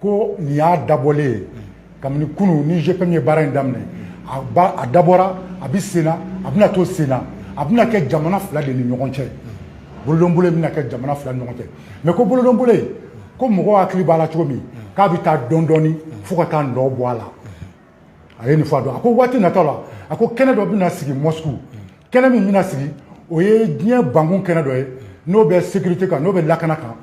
ko nin y'a dabɔlen ye kabini kunu ni gpm ye baara in daminɛ a dabɔra a bɛ senna a bɛna to senna a bɛna kɛ jamana fila de ni ɲɔgɔn cɛ bolodonbolo bɛna kɛ jamana fila ni ɲɔgɔn cɛ mɛ ko bolodonbolo ko mɔgɔw hakili b'a la cogo min k'a bɛ taa dɔɔni dɔɔni fo ka taa nɔ bɔ a la a ye nin fɔ a don a ko waati nata la a ko kɛnɛ dɔ bɛna sigi moscou kɛnɛ min bɛna sigi o ye diɲɛ bankun kɛnɛ dɔ ye n'o bɛ sécurité kan n'o bɛ lakana kan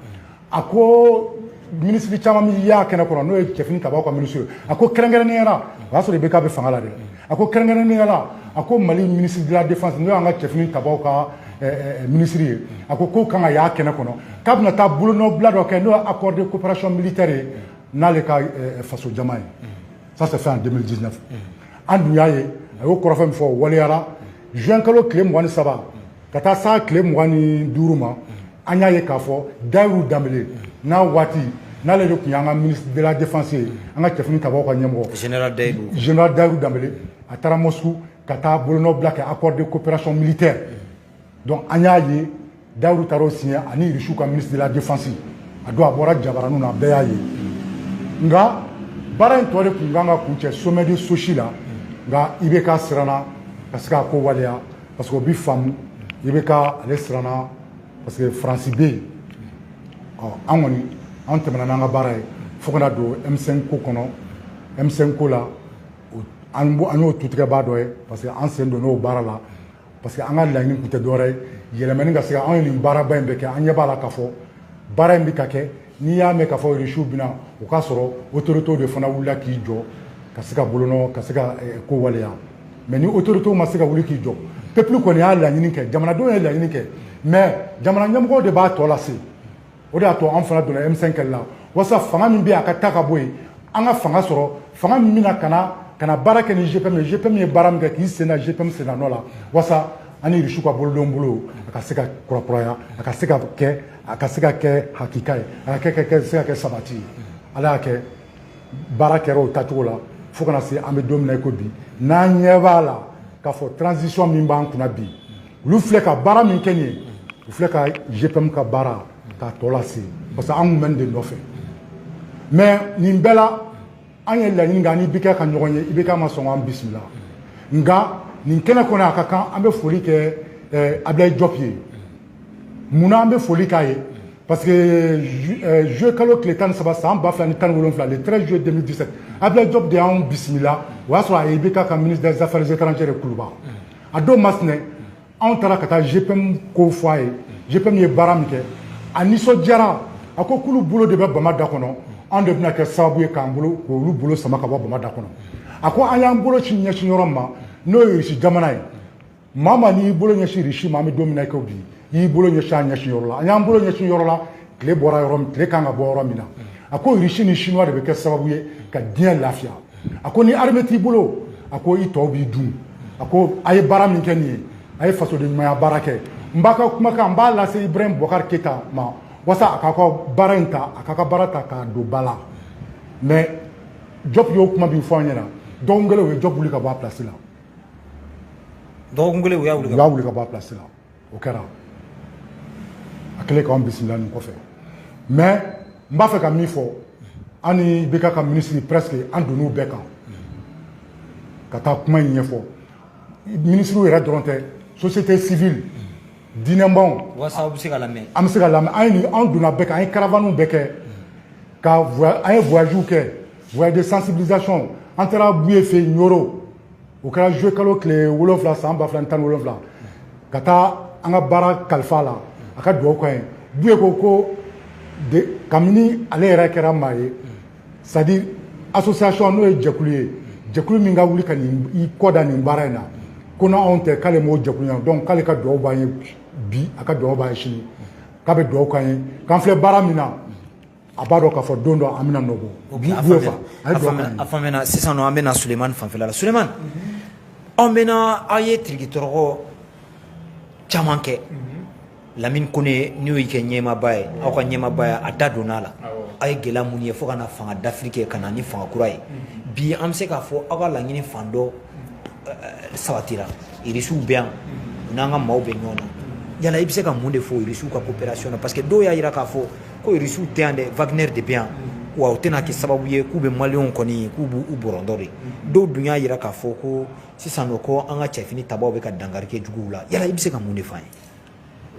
a ko minisiri caman min y'a kɛnɛ kɔnɔ n'o ye cɛfini tabaw ka minisiri ye a ko kɛrɛnkɛrɛnnenya la o y'a sɔrɔ IBK bɛ fanga la dɛ a ko kɛrɛnkɛrɛnnenya la a ko mali minisiri de la défense n'o y'an ka cɛfini tabaw ka eh, eh, eh, minisiri ye a ko k'o kan ka y'a kɛnɛ kɔnɔ k'a bɛna taa bolonɔbila dɔ kɛ n'o ye accord de coopération militaire ye n'ale ka eh, faso jama ye ça s'est fait en 2019 an dun y'a ye a y'o kɔrɔfɔ min fɔ o waleyara juin kalo tile mugan ni saba ka taa s'a tile mugan ni duuru ma an y'a ye k'a fɔ Dahirou Dembélé n'a waati n'ale de tun y'an ka ministre de la défense ye an ka cɛfini tabaw ka ɲɛmɔgɔ général Dahirou général Dahirou Dembélé a taara moscou ka taa bolonɔbila kɛ accord de coopération militaire donc an y'a ye dawuru taara o siɲɛ ani irisiw ka ministre de la défense a don a bɔra jabaraniw na a bɛɛ y'a ye nka baara in tɔ de tun kan ka kuncɛ sommet de sosi la nka IBK siranna ka se k'a ko waleya parce que o bi faamu IBK ale siranna parce que faransi bɛ yen ɔ an kɔni an tɛmɛna n'an ka baara ye fo ka na don M5 ko kɔnɔ M5 ko la an y'o tutigɛbaa dɔ ye parce que an sen donn'o baara la parce que an ka laɲini tun tɛ dɔwɛrɛ ye yɛlɛmani ka se ka anw ye nin baaraba in bɛɛ kɛ an ɲɛ b'a la k'a fɔ baara in bɛ ka kɛ n'i y'a mɛn k'a fɔ irisiw bɛ na o k'a sɔrɔ otoritew de fana wulila k'i jɔ ka se ka bolonɔ ka se ka eh, ko waleya mais ni otoritew ma se ka wuli k'i jɔ pepulu kɔni y'a laɲini kɛ jamanadenw ye laɲini kɛ mais jamana ɲɛmɔgɔw de b'a tɔ lase o de y'a to an fana donna M5 kɛlɛ la walasa fanga min bɛ yen a ka ta ka bɔ yen an ka fanga sɔrɔ fanga min bɛna ka na ka na baara kɛ ni GPM ye GPM ye baara min kɛ k'i sen da GPM sennanɔ la walasa an ni Irisiw ka bolodonbolo a ka se ka kurakuraya a ka se ka kɛ a ka se ka kɛ hakika ye a ka kɛ se ka kɛ sabati ye ala y'a kɛ baara kɛra o tacogo la fo ka na se an bɛ don min na i ko bi n'an ɲɛ b'a la k'a fɔ transition min b'an kunna bi olu filɛ ka baara min kɛ nin ye u filɛ ka GPM ka baara k'a tɔ lase parce que an tun bɛ nin de nɔfɛ mais nin bɛɛ la an ye laɲini kɛ an ni IBK ka ɲɔgɔn ye IBK ma sɔn k'an bisimila nka nin kɛnɛ kɔnɔ a ka kan an bɛ foli kɛ eh, Abilayi Jɔp ye mun na an bɛ foli k'a ye parce que juillet eh, kalo tile tan ni saba san ba fila ni tan ni wolonwula le 13 juillet 2017 Abilayi Jɔp de y'anw bisimila o y'a sɔrɔ a ye IBK ka ministre des affaires étrangères ye kuluba a don mas anw taara ka taa GPM ko fɔ a ye GPM ye baara min kɛ a nisɔndiyara a k'olu bolo de bɛ bama da kɔnɔ anw de bɛna kɛ sababu ye k'an bolo k'olu bolo sama ka bɔ bama da kɔnɔ a ko an y'an bolo sin ɲɛsin yɔrɔ ma n'o ye irisi jamana ye maa man'i bolo ɲɛsin irisi ma an bɛ don min na i ko bi i y'i bolo ɲɛsin a ɲɛsin yɔrɔ la an y'an bolo ɲɛsin yɔrɔ la tile bɔra yɔrɔ min tile kan ka bɔ yɔrɔ min na a ko irisi ni chinois de bɛ kɛ sababu ye ka diɲɛ lafiya a ko ni arme t'i bolo a ko i tɔw b'i dun a ko a ye baara min kɛ nin ye a ye fasodenɲumanya baara kɛ n b'a ka kumakan n b'a lase ibrahim bubakari keyita ma walasa a k'a ka baara in ta a k'a ka baara ta k'a don ba la mais jɔp y'o kuma min fɔ an ɲɛna dɔgɔkun kelen u ye jɔp wuli ka bɔ a pilasi la dɔgɔkun kelen u y'a wuli ka bɔ a pilasi la o kɛra a kɛlen k'an bisimila nin kɔfɛ mais n b'a fɛ ka min fɔ an ni IBK ka minisiri presque an donn'u bɛɛ kan ka taa kuma in ɲɛfɔ minisiriw yɛrɛ dɔrɔn tɛ société civile diinɛbaw walasa aw bɛ se ka lamɛn an bɛ se ka lamɛn an ye an donna bɛɛ kan an ye caravanew bɛɛ kɛ ka an ye voyagew kɛ voyage de sensibilisation an taara buye fɛ yen ɲoro o kɛra juwe kalo tile wolonfila san ba fila ni tan ni wolonfila ka taa an ka baara kalifa a la a ka dugawu k'an ye buye ko ko kabini ale yɛrɛ kɛra maa ye c'est-à-dire association n'o ye jɛkulu ye jɛkulu min ka wuli ka nin i kɔ da nin baara in na ko n'anw tɛ k'ale m'o jɛkulu ye donc k'ale ka dugawu b'an ye bi a ka dugawu b'an ye sini k'a bɛ dugawu k'an ye k'an filɛ baara min na a b'a dɔn k'a fɔ don dɔ an bɛna nɔ bɔ bi a b'o fa a ye duwawu kɛ a faamuya sisan nɔ an bɛna sulemani fanfɛla la sulemani an bɛna aw ye tirikitɔrɔkɔ caman kɛ lamini kone n'o y'i ka ɲɛmaaba ye aw ka ɲɛmaaba ye a da donna a la aw ye gɛlɛya minnu ye fo ka na fanga dafiri kɛ ka na ni fanga kura ye bi an bɛ se k'a fɔ aw ka laɲini fan dɔ sabatira irisiw bɛ yan u n'an ka maaw bɛ ɲɔgɔn na yala i bɛ se ka mun de fɔ irisiw ka coopération na parce que dɔw y'a jira k'a fɔ ko irisiw tɛ yan dɛ Wagner de bɛ yan wa u tɛna kɛ sababu ye k'u bɛ maliyɛnw kɔni k'u b'u bɔrɔntɔ de dɔw dun y'a jira k'a fɔ ko sisan nɔ ko an ka cɛfini tabaw bɛ ka dankari kɛ juguw la yala i bɛ se ka mun de f'an ye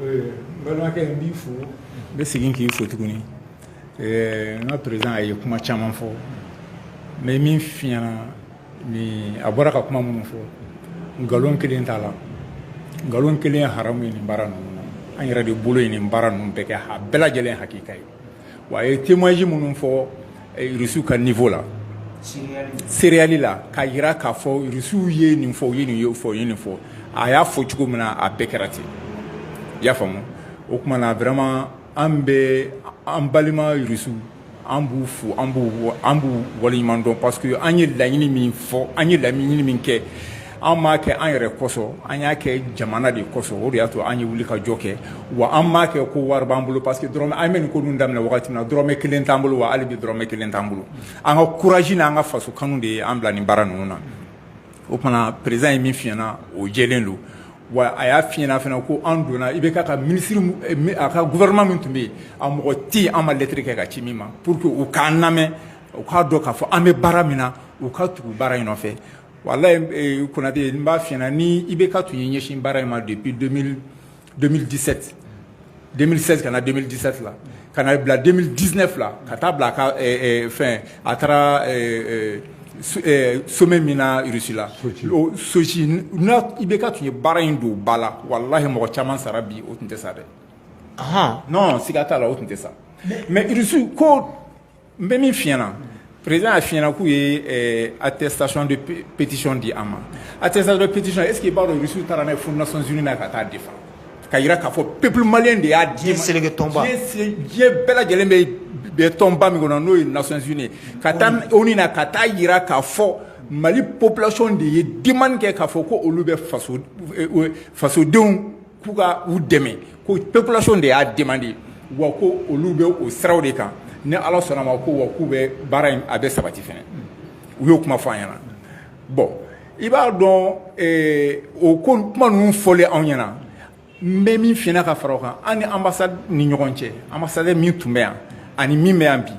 n balimakɛ n b'i fo n bɛ segin k'i fo tuguni n ka président a ye kuma caman fɔ n bɛ min f'i ɲɛna ni a bɔra ka kuma minnu fɔ nkalon kelen t'a la nkalon kelen haramu ye nin baara ninnu na an yɛrɛ de bolo ye nin baara ninnu bɛɛ kɛ a bɛɛ lajɛlen hakika ye wa a ye témoignage minnu fɔ rusuw ka niveau la sereyali la k'a jira k'a fɔ rusuw ye nin fɔ u ye nin ye fɔ ye nin fɔ a y'a fɔ cogo min na a bɛɛ kɛra ten i y'a faamu o tuma na vraiment an bɛ an balima rusu an b'u fo an b'u an b'u waleɲuman dɔn parce que an ye laɲini min fɔ an ye laɲini min kɛ Anw m'a kɛ an yɛrɛ kosɔn an y'a kɛ jamana de kosɔn o de y'a to an ye wuli ka jɔ kɛ wa an m'a kɛ ko wari b'an bolo parce que dɔrɔmɛ an bɛ nin ko ninnu daminɛ wagati min na dɔrɔmɛ kelen t'an bolo wa hali bi dɔrɔmɛ kelen t'an bolo an ka courage n'an ka faso kanu de ye an bila nin baara ninnu na o tuma président ye min f'i ɲɛna o jɛlen don wa a y'a f'i ɲɛna fana ko an donna IBK ka ministre a ka gouvernement min tun bɛ yen a mɔgɔ tɛ yen an ma lettre kɛ k'a ci min ma pour que u k'an lamɛn u k'a dɔn k'a fɔ an bɛ baara min na u ka tugu baara in nɔfɛ Wala kunnanatɛ n b'a fna ni i bɛ ka tun ye ɲɛsin baara in ma de bi denmisɛnninmidisɛte denmisɛnninmi ka na denmisɛnmidisɛ fila ka na bila denmisɛn diinɛ fila ka taa bila ka fɛn a taara somɛ min naurusila sosi n i bɛ ka tun ye baara in don ba la wala ye mɔgɔ caman sara bi o tun tɛ sa dɛ nɔn sigiiga t'a la o tun tɛ sa mɛrusu ko n bɛ min f'i ɲɛna président a f'i ɲɛna k'u ye eh, attestation de pétition di an ma attestation de pétition est ce que i b'a dɔn Russie taara n'a ye fo nations unies na ka taa défendre ka yira k'a fɔ peuple malien de y'a di seleke tɔnba diɲɛ bɛɛ lajɛlen bɛ bɛ tɔnba min kɔnɔ n'o ye nations unies ka taa onu na ka taa yira k'a fɔ mali population de ye demande kɛ k'a fɔ ko olu bɛ faso eh, fasodenw K'u ka u dɛmɛ ko population de y'a demande wa ko olu bɛ o siraw de kan ni ala sɔnna ma ko wa k'u bɛ baara in a bɛ sabati fɛ u y'o kuma fɔ an ɲɛna bon i b'a dɔn o ko kuma ninnu fɔlen anw ɲɛna n bɛ min f'i ɲɛna ka fara kan an ni ambassade ni ɲɔgɔn cɛ ambassadeur min tun bɛ yan ani min bɛ yan bi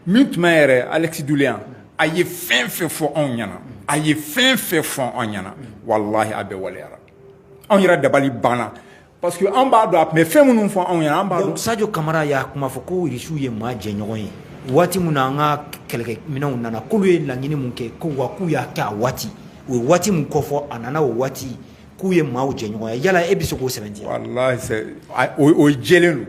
min tun bɛ yɛrɛ Alexeï Doulian a ye fɛn fɛn fɔ anw ɲɛna a ye fɛn fɛn fɔ anw ɲɛna wa a bɛɛ waleyara anw yɛrɛ dabali banna parce que an b'a dɔn a tun bɛ fɛn minnu fɔ anw ye an b'a dɔn Sadio Kamara y'a kuma fɔ ko Russie ye maa jɛɲɔgɔn ye waati min na an ka kɛlɛkɛminɛnw nana k'olu ye laɲini min kɛ ko wa k'u y'a kɛ a waati u ye waati min kofɔ a nana o waati k'u ye maaw jɛɲɔgɔn ye yala e bɛ se k'o sɛbɛntiya walahi o jɛlen don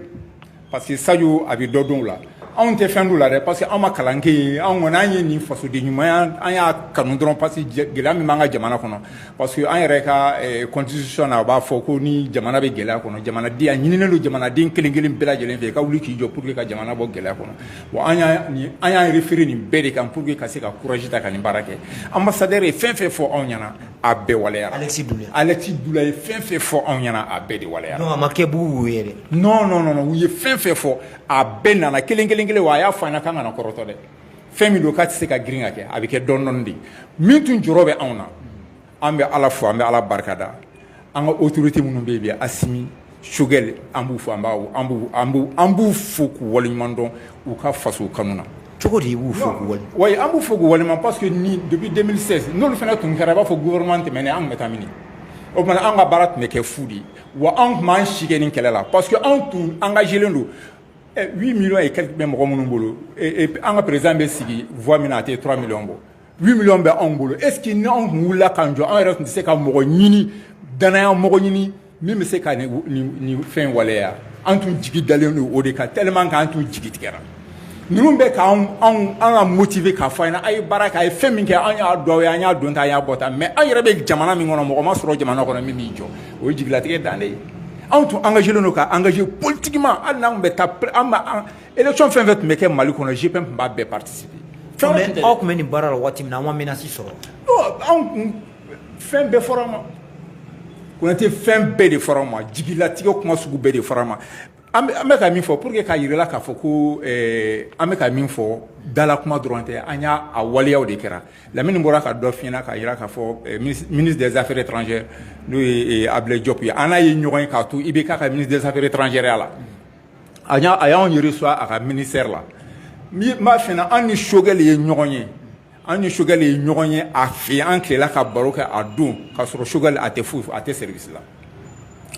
Parce que Sadio a bɛ dɔ dɔn a la anw tɛ fɛn dɔn a la dɛ parce que anw ma kalan kɛ anw kɔni an ye nin fasoden ɲuman an y'a kanu dɔrɔn parce que gɛlɛya min b'an ka jamana kɔnɔ parce que an yɛrɛ ka constitution a b'a fɔ ko ni jamana bɛ gɛlɛya kɔnɔ jamana di a ɲininen don jamanaden kelen kelen bɛɛ lajɛlen fɛ ka wuli k'i jɔ pour que ka jamana bɔ gɛlɛya kɔnɔ wa an y'an yɛrɛ feere nin bɛɛ de kan pour que ka se ka courage ta ka nin baara kɛ ambassadeur ye fɛn fɛn fɔ anw ɲɛna a bɛɛ waleyara ale ale ye fɛn fɛn fɔ anw ɲɛna a bɛɛ de waleya ma kɛ' yɛrɛ non non non u ye fɛn fɛn fɔ a bɛɛ nana kelen kelen kelen wa a y'a fɔ an ɲɛna k'an kana kɔrɔtɔ dɛ fɛn min don k'a tɛ se ka girin ka kɛ a bɛ kɛ dɔɔni dɔɔni de min tun jɔrɔ bɛ anw na an bɛ ala fo an bɛ ala barika da an ka autorité minnu bɛ yen bi Assimi Choguel an b'u fo an b'a an b'u an b'u an b'u fo k'u waleɲuman dɔn u ka faso kanu na cogo di i b'u fo k'u wale wa an b'u fo k'u waleɲuman parce que ni depuis 2016 n'olu fana tun kɛra i b'a fɔ gouvernement tɛmɛnen an tun bɛ taa min o tuma an ka baara tun bɛ kɛ fu de ye wa anw tun b'an si kɛ nin kɛlɛ la parce que anw tun engagé len don eh, 8 millions et quelques bɛ mɔgɔ minnu bolo eh, eh, an ka président bɛ sigi voix min na a tɛ 3 millions bɔ 8 millions bɛ anw bolo est ce que ni anw tun wulila k'an jɔ an yɛrɛ tun tɛ se ka mɔgɔ ɲini danaya mɔgɔ ɲini min bɛ se ka nin nin nin fɛn waleya an tun jigi dalen don o de kan tellement k'an tun jigi tigɛra ninnu bɛ k'an anw an ka motiver k'a fɔ an ɲɛna a' ye baara kɛ a ye fɛn min kɛ an y'a dɔn aw ye an y'a don tan an y'a bɔ tan mais an yɛrɛ bɛ jamana min kɔnɔ mɔgɔ ma sɔrɔ jamana kɔnɔ min b'i jɔ o ye jigilatigɛ dan de ye anw tun engagé len don ka engager politiquement hali n'an tun bɛ taa an bɛ an élection fɛn fɛn tun bɛ kɛ Mali kɔnɔ GPM tun b'a bɛɛ participer fɛn wɛrɛ tun tɛ dɛ aw tun bɛ nin baara la waati min na aw ma menace sɔrɔ non anw tun fɛn bɛɛ fɔra an ma Konate fɛn bɛɛ de fɔra an ma jigilatigɛ kuma sugu bɛɛ de fɔra an ma An bɛ ka min fɔ pour que k'a jira i la k'a fɔ ko an bɛ ka min fɔ dala kuma dɔrɔn tɛ, an y'a waleya o de kɛra Lamini bɔra ka dɔ f'i ɲɛna k'a jira k'a fɔ ministre des affaires étrangères n'o ye Abulayi Jɔpu ye, an n'a ye ɲɔgɔn ye k'a to IBK ka ministre des affaires étrangères ya la, a y'anw reçoit a ka ministère la, n b'a f'i ɲɛna an ni Choguel ye ɲɔgɔn ye An ni Choguel ye ɲɔgɔn ye a fɛ an tilela ka baro kɛ a don ka sɔrɔ Choguel a tɛ foyi fɔ a tɛ service la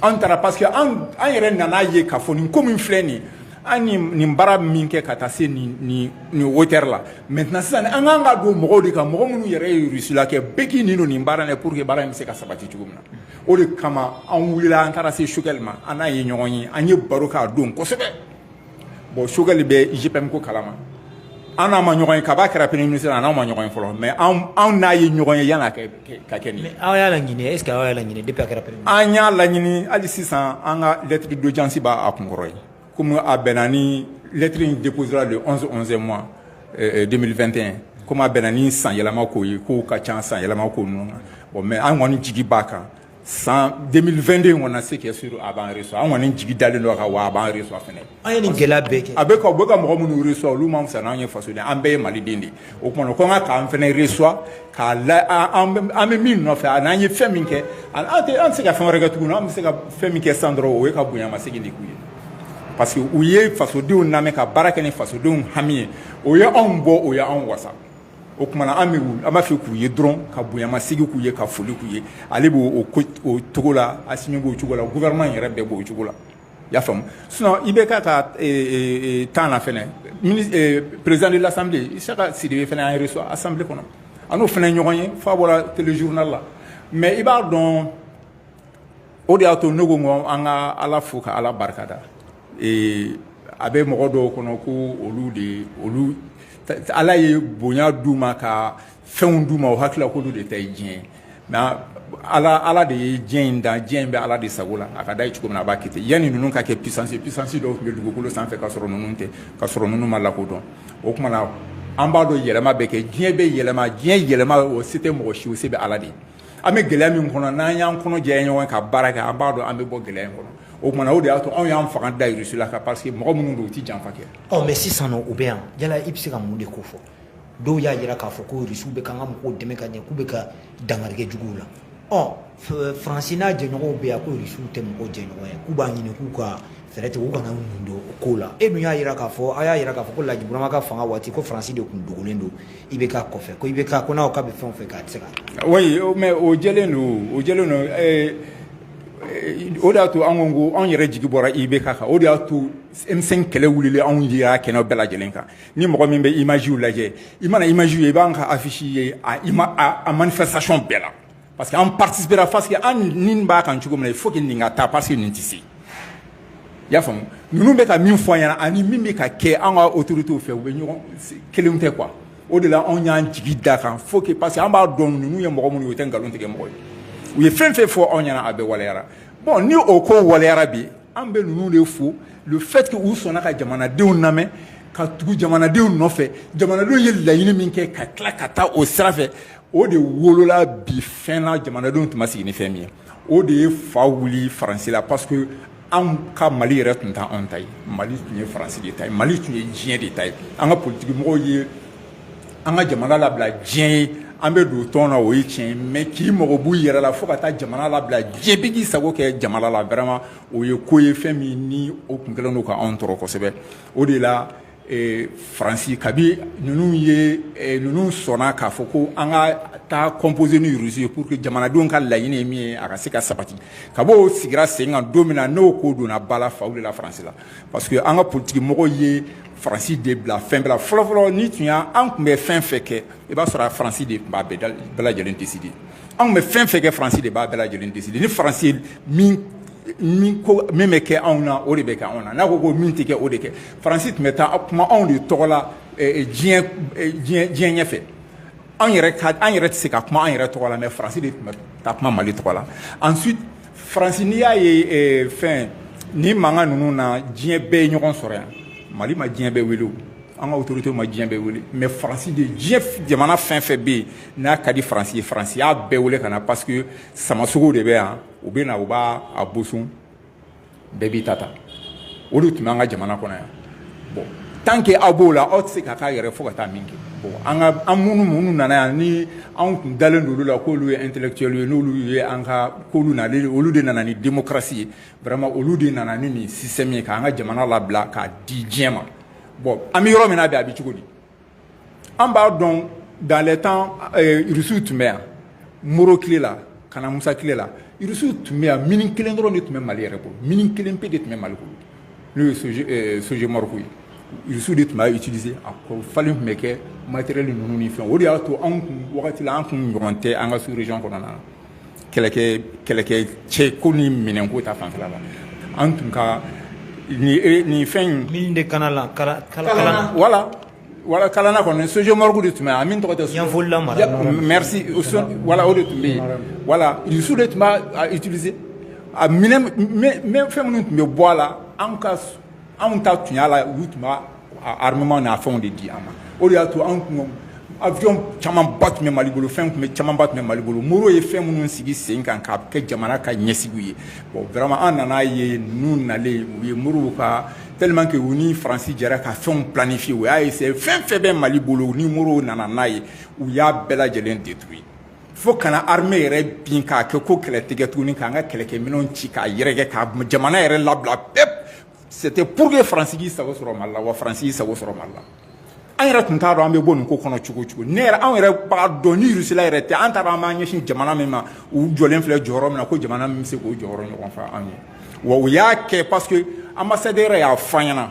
an taara parce que an yɛrɛ nan'a ye k'a fɔ nin ko min filɛ nin an nin baara min kɛ ka taa se nin hauteur la maintenant sisan an kan ka don mɔgɔw de kan mɔgɔ minnu yɛrɛ ye Russie la kɛ bɛɛ k'i nin don nin baara ye pour que baara in bɛ se ka sabati cogo min na o de kama an wulila an taara se Choguel ma an n'a ye ɲɔgɔn ye an ye baro k'a don kosɛbɛ bon Choguel bɛ GPM ko kalama an n'a ma ɲɔgɔn ye kab'a kɛra premier ministre an n'a ma ɲɔgɔn ye fɔlɔ mais anw n'a ye ɲɔgɔn ye yan'a ka kɛ nin ye aw y'a laɲini est ce que aw y'a laɲini depuis a kɛra premier ministre an y'a laɲini hali sisan an ka lettre d'audience b'a kunkɔrɔ yen komi a bɛnna ni lettre in déposera le 11 11ème mois 2021 euh, komi a bɛnna ni san yɛlɛma ko ye kow ka ca san yɛlɛma ko ninnu na bon mais an kɔni jigi b'a kan san 2022 in kɔnɔ ce qui est sûr a b'an reçoit an kɔni jigi dalen don a kan wa a b'an reçoit fɛnɛ an ye nin gɛlɛya bɛɛ kɛ a bɛ ka u bɛ ka mɔgɔ minnu reçoit olu man fisa n'an ye fasoden an bɛɛ ye maliden de ye o tuma na u ka kan k'an fɛnɛ reçoit k'an lamɛn an bɛ min nɔfɛ ani an ye fɛn min kɛ an tɛ an tɛ se ka fɛn wɛrɛ kɛ tuguni an bɛ se ka fɛn min kɛ sisan dɔrɔn o ye ka bonya masegin de k'u ye parce que u ye fasodenw lamɛn ka baara kɛ ni fasodenw hami ye o ye anw bɔ o ye anw wasa o tuma na an bɛ wuli an b'a fɛ k'u ye dɔrɔn ka bonyamasegin k'u ye ka foli k'u ye ale bɛ o ko o cogo la Asimi b'o cogo la gouvernement in yɛrɛ bɛɛ b'o cogo la i y'a faamu sinon IBK ka temps na fana président de l'assemblée Isaka Sidibe fana y'an reçoit assemblée kɔnɔ an n'o fana ye ɲɔgɔn ye f'a bɔra téléjournal la mais i b'a dɔn o de y'a to ne ko ko an ka ala fo ka ala barikada a bɛ mɔgɔ dɔw kɔnɔ ko olu de olu ala ye bonya d'u ma ka fɛnw d'u ma u hakili la ko olu de ta diɲɛ mais ala ala de ye diɲɛ in dan diɲɛ in bɛ ala de sago la a ka d'a ye cogo min na a b'a kɛ yani ninnu ka kɛ puissance puissance dɔw tun bɛ dugukolo sanfɛ ka sɔrɔ ninnu tɛ ka sɔrɔ ninnu ma lakodɔn o tuma na an b'a dɔn yɛlɛma bɛ kɛ diɲɛ bɛ yɛlɛma diɲɛ yɛlɛma o se tɛ mɔgɔ si o se bɛ ala de ye an bɛ gɛlɛya min kɔnɔ n'an y'an kɔnɔ jɛ ɲɔgɔn ka baara kɛ an b'a dɔn an bɛ bɔ gɛlɛya kɔnɔ o tuma o de y'a to anw y'an fanga da Russie la kan parce que mɔgɔ minnu don u tɛ janfa kɛ aw mais sisan u bɛ yan yala i bɛ se ka mun de ko fɔ dɔw y'a jira k'a fɔ ko Russie bɛ ka ka mɔgɔw dɛmɛ ka ɲɛ k'u bɛ ka dankari kɛ juguw la ɔ faransi n'a jɛɲɔgɔn bɛ yan ko Russie tɛ mɔgɔw jɛɲɔgɔn ye k'u b'a ɲini k'u ka fɛɛrɛ tigɛ u kana mun don ko la e min y'a jira k'a fɔ a y'a jira k'a fɔ ko Laji Burama ka fanga waati ko faransi de tun dogolen don IBK kɔfɛ ko IBK ko n'a k'a bɛ fɛn o fɛn kɛ a tɛ se k'a kɛ. oui mais o jɛlen don o jɛlen don ɛɛ o de y'a to an ko ko anw yɛrɛ jigi bɔra IBK kan o de y'a to M5 kɛlɛ wulila anw yera kɛnɛ bɛɛ lajɛlen kan ni mɔgɔ min bɛ image lajɛ i mana image ye i b'an ka affiche ye a ima a manifestation bɛɛ la. Parce que an participera parce que an ni b'a kan cogo min na il faut que nin ka taa parce que nin tɛ se i y'a faamu ninnu bɛ ka min fɔ an ɲɛna ani min bɛ ka kɛ an ka autorités fɛ u bɛ ɲɔgɔn kelenw tɛ quoi o de la anw y'an jigi da kan faut que parce que an b'a dɔn ninnu ye mɔgɔ minnu ye u tɛ nkalon tigɛ mɔgɔ ye u ye fɛn fɛn fɔ anw ɲɛna a bɛɛ waleyara bon ni o ko waleyara bi an bɛ ninnu de fo le fait que u sɔnna ka jamanadenw lamɛn ka tugu jamanadenw nɔfɛ jamanadenw ye laɲini min kɛ ka tila ka taa o sira fɛ o de wolola bi fɛn na jamanadenw tun ma sigi ni fɛn min ye o de ye fa wuli faransi la parce que anw ka mali yɛrɛ tun tɛ anw ta ye mali tun ye faransi de ta ye mali tun ye diɲɛ de ta ye an ka politikimɔgɔw ye an ka jamana labila diɲɛ ye an bɛ don tɔn na o ye tiɲɛ ye mais k'i mago b'u yɛrɛ la fo ka taa jamana labila diɲɛ bɛɛ k'i sago kɛ jamana la vraiment o ye ko ye fɛn min ni o tun kɛlen don ka anw tɔɔrɔ kosɛbɛ o de la faransi kabi ninnu ye ninnu sɔnna k'a fɔ ko an ka taa composer ni Russie ye pour que jamanadenw ka laɲini min ye a ka se ka sabati kab'o sigira sen kan don min na n'o ko donna bala fa la faransi la parce que an ka politikimɔgɔ ye faransi de bila fɛn bila fɔlɔfɔlɔ ni tun y' an tun bɛ fɛn fɛn kɛ i b'a sɔrɔ a faransi de tun b'a bɛɛ lajɛlen décider anw bɛ fɛn fɛn kɛ faransi de b'a bɛɛ lajɛlen décider ni faransi min bɛ kɛ anw na o de bɛ kɛ anw na n'a ko ko min tɛ kɛ o tɛ kɛ Faransi tun bɛ taa kuma anw de tɔgɔ la diɲɛ ɲɛfɛ anw an yɛrɛ tɛ se ka kuma an yɛrɛ tɔgɔ la mais Faransi de tun bɛ taa kuma mali tɔgɔ la ensuite faransi n'i y'a ye fɛn ni mankan ninnu na diɲɛ bɛɛ ye ɲɔgɔn sɔrɔ yan mali ma diɲɛ bɛɛ wele an ka autorité ma diɲɛ bɛɛ wele mais faransi de diɲɛ jamana fɛn fɛn bɛ yen n'a ka di faransi ye faransi y'a bɛɛ wele ka na parce que samasogo de bɛ yan u bɛ na u b'a boso bɛɛ b'i ta ta o de tun b'an ka jamana kɔnɔ yan bon tant que aw b'o la aw tɛ se ka k'a yɛrɛ fo ka taa min kɛ bon an ka an minnu minnu nana yan ni anw tun dalen don olu la k'olu ye intellectuel ye n'olu ye an ka k'olu na olu de nana ni démocratie ye vraiment olu de nana ni nin système ye k'an ka jamana labila k'a di diɲɛ ma bon an bɛ yɔrɔ min na bi a bɛ cogo di An b'a dɔn dans les temps Russie tun bɛ yan Modibo tile la ka na Musa tile la Russie tun bɛ yan mine 1 dɔrɔn de tun bɛ Mali yɛrɛ bolo mine 1 pe de tun bɛ Mali bolo n'o ye Sogemork ye Russie de tun b'a utiliser a falen tun bɛ kɛ matériel ninnu ni fɛnw o de y'a to anw tun wagati la an tun ɲɔgɔn tɛ an ka sous-région kɔnɔna na kɛlɛkɛ cɛ ko ni minɛn ko ta fan la an tun ka nin fɛn in de Kalana wala wala Kalana kɔnɔ Sogemork de tun a min tɔgɔ tɛ sfolila wala o de tun bɛ yen wala Russie de tun b'a utiliser a fɛn minnu tun bɛ bɔ a la anw ta tun y'a la u tun armement n'a fɛnw de di an ma o de y'a to an kun avion camanba tun bɛ mali bolo fɛn tun bɛ camanba tun bɛ mali bolo Modibo ye fɛn minnu sigi sen kan k'a kɛ jamana ka ɲɛsigiw ye bon vraiment an nan'a ye ninnu nalen u ye Modibo ka tellement que u ni faransi jɛra ka fɛnw planifier u y'a essayer fɛn fɛn bɛ mali bolo ni Modibo nana n'a ye u y'a bɛɛ lajɛlen détruire fo ka na armée yɛrɛ bin k'a kɛ ko kɛlɛ tɛ kɛ tuguni k'an ka kɛlɛkɛminɛnw ci k'a yɛrɛkɛ ka jamana yɛrɛ labila pep C'était pour que France k'i sago sɔrɔ Mali la wa France y'i sago sɔrɔ Mali la. An yɛrɛ tun t'a dɔn an bɛ bɔ nin ko kɔnɔ cogo cogo. Ne yɛrɛ anw yɛrɛ b'a dɔn ni Russie la yɛrɛ tɛ an t'a dɔn an b'an ɲɛsin jamana min ma u jɔlen filɛ jɔyɔrɔ min na ko jamana min bɛ se k'o jɔyɔrɔ ɲɔgɔn fa anw ye. Wa u y'a kɛ parce que ambassadeur yɛrɛ y'a fɔ an ɲɛna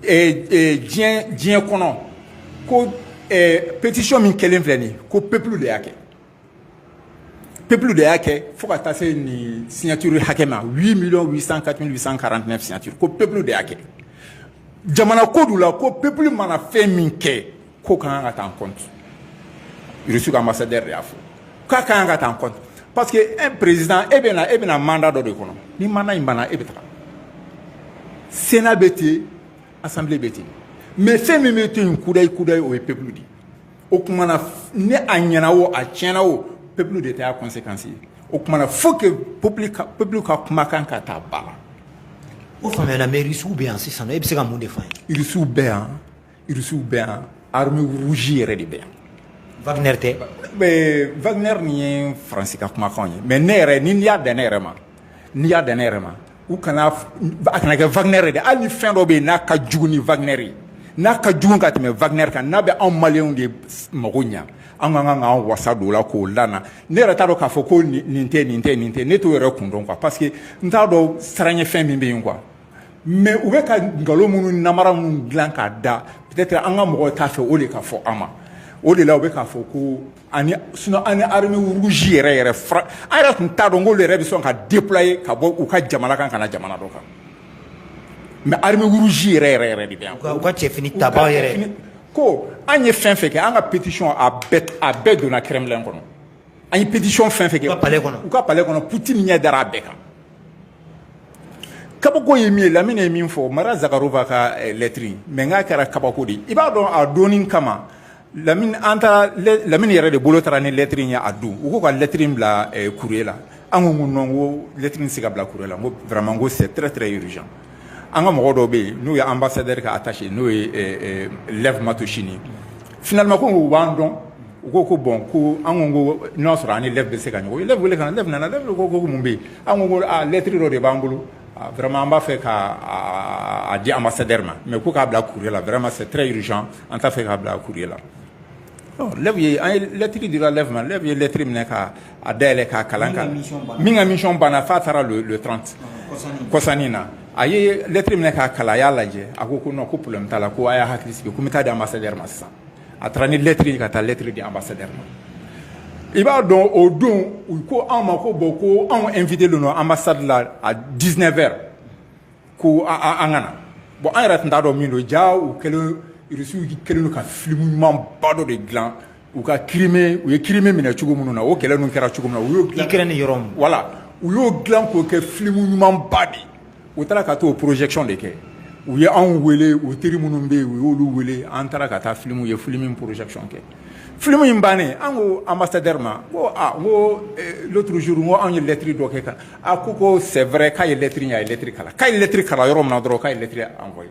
ee ee diɲɛ diɲɛ kɔnɔ ko ee pétition min kɛlen filɛ nin ye ko peuple de y'a kɛ. Peuple de y'a kɛ fo ka taa se nin signature hakɛ ma huit mille cent quatre cent quarante-huit ko peuple de y'a kɛ jamana ko la ko peuple mana fɛn min kɛ ko k'a ka ta compte u ka ambassadeur y'a fɔ k'a ka kan ka ta compte parce que e président e bɛ e bɛna mandat dɔ de kɔnɔ ni mandat in banna e bɛ taa Sénat bɛ ten assemblée bɛ ten mais fɛn min bɛ to yen kudayi kudayi o ye peuple de ye o tuma na ni a ɲɛna o a tiɲɛna o peuple de ta y'a conséquence ye o tuma na faut que peuple ka kumakan ka ta ba la o fana mais Irisiw bɛ yan sisan e bɛ se ka mun de fɔ Irisiw bɛ yan Irisiw bɛ yan armée rouge yɛrɛ de bɛ yan Wagner tɛ Wagner nin ye faransi ka kumakan ye mais ne yɛrɛ n'i y'a dan ne yɛrɛ ma n'i y'a dan ne yɛrɛ ma u kana a kana kɛ Wagner dɛ hali ni fɛn dɔ bɛ yen n'a ka jugu ni Wagner ye n'a ka jugu ka tɛmɛ Wagner kan n'a bɛ anw maliw de mako ɲɛ an ka kan ka an wasa don o la k'o la ne yɛrɛ t'a dɔn k'a fɔ ko nin tɛ nin tɛ nin tɛ ne t'o yɛrɛ kun dɔn quoi parce que n t'a dɔn siran ɲɛ fɛn min bɛ yen quoi mais u bɛ ka nkalon minnu nanbara minnu dilan k'a da peut-être an ka mɔgɔ t'a fɛ o de ka fɔ an ma o de la u bɛ k'a fɔ ko ani sinon ani armée rouge yɛrɛ yɛrɛ fana an yɛrɛ tun t'a dɔn k'olu yɛrɛ bɛ sɔn ka déployer ka bɔ u ka jamana kan ka na jamana dɔ kan mais armée rouge yɛrɛ yɛrɛ yɛrɛ de bɛ yan u ka cɛfini tabaa yɛrɛ ko an ye fɛn fɛn kɛ an ka pétition a bɛɛ a bɛɛ donna Kremlin kɔnɔ an ye pétition fɛn fɛn kɛ u ka palais kɔnɔ u ka palais kɔnɔ Poutine ɲɛ dara a bɛɛ kan kabako ye min ye Lamine ye min fɔ Maria Zakharova ka eh, lettre mais n k'a kɛra kabako de ye i b'a dɔn a donni kama lamini an taara lamini yɛrɛ de bolo taara ni lɛtiri ye o don u ko ka lɛtiri bila courrier la an ko ko nɔn ko lɛtiri tɛ se ka bila courrier la ko vraiment ko c'est très très urgent an ka mɔgɔ dɔ bɛ yen n'o ye ambassadeur ka attaché n'o ye lev matosini finalement ko u b'an dɔn u ko ko bɔn ko an ko n'o a sɔrɔ an ni lev bɛ se ka ɲɔgɔn ye lev wele ka lev nana lev ko ko mun bɛ yen an ko lɛtiri dɔ de b'an bolo Vma b'a fɛ ka di a ma sed ma mɛ ko k'a bila kuru la vma sɛ yiriz an t'a fɛ k'a bila kuru la ye an yelɛtiri de lama lɛ ye lɛttiriri minɛ ka a da yɛlɛɛlɛn k'a kalan kan min ka miɔn banna fa taara don don tranti kɔsan in na a yelɛttiriri minɛ k'a kala a y'a lajɛ a ko ko ko porolenme' la ko a y'a hakili sigi ko bɛ taa di a ma seri ma sisan a taara ni lɛtiri ye ka taa lɛtiri di ambassadeur ma i b'a dɔn o don u ko anw ma ko bɔn ko anw invitélen don ambassade la à dix-neuf heures ko an ka na bɔn an yɛrɛ tun t'a dɔn min don jaa u kɛlen irisiw kɛlen ka filimu ɲuman ba dɔ de dilan u ka ki u ye crimée minɛ cogo minnu na o kɛlɛ ninnu kɛra cogo min na ukraine ni yɔrɔw la u y'o dilan k'o kɛ filimu ɲuman ba de ye u taara ka taa o projection de kɛ u ye anw weele u teri minnu bɛ yen u y'olu weele an taara ka taa filimu ye filimu in projection kɛ filimu in bannen an ko ambassadeur ma ko ko l'autre jour ko anw ye lɛtiri dɔ kɛ kan a ko ko c'est vrai k'a ye lɛtiri ye a ye lɛtiri kalan k'a ye lɛtiri kalan yɔrɔ min na dɔrɔn k'a ye lɛtiri envoyer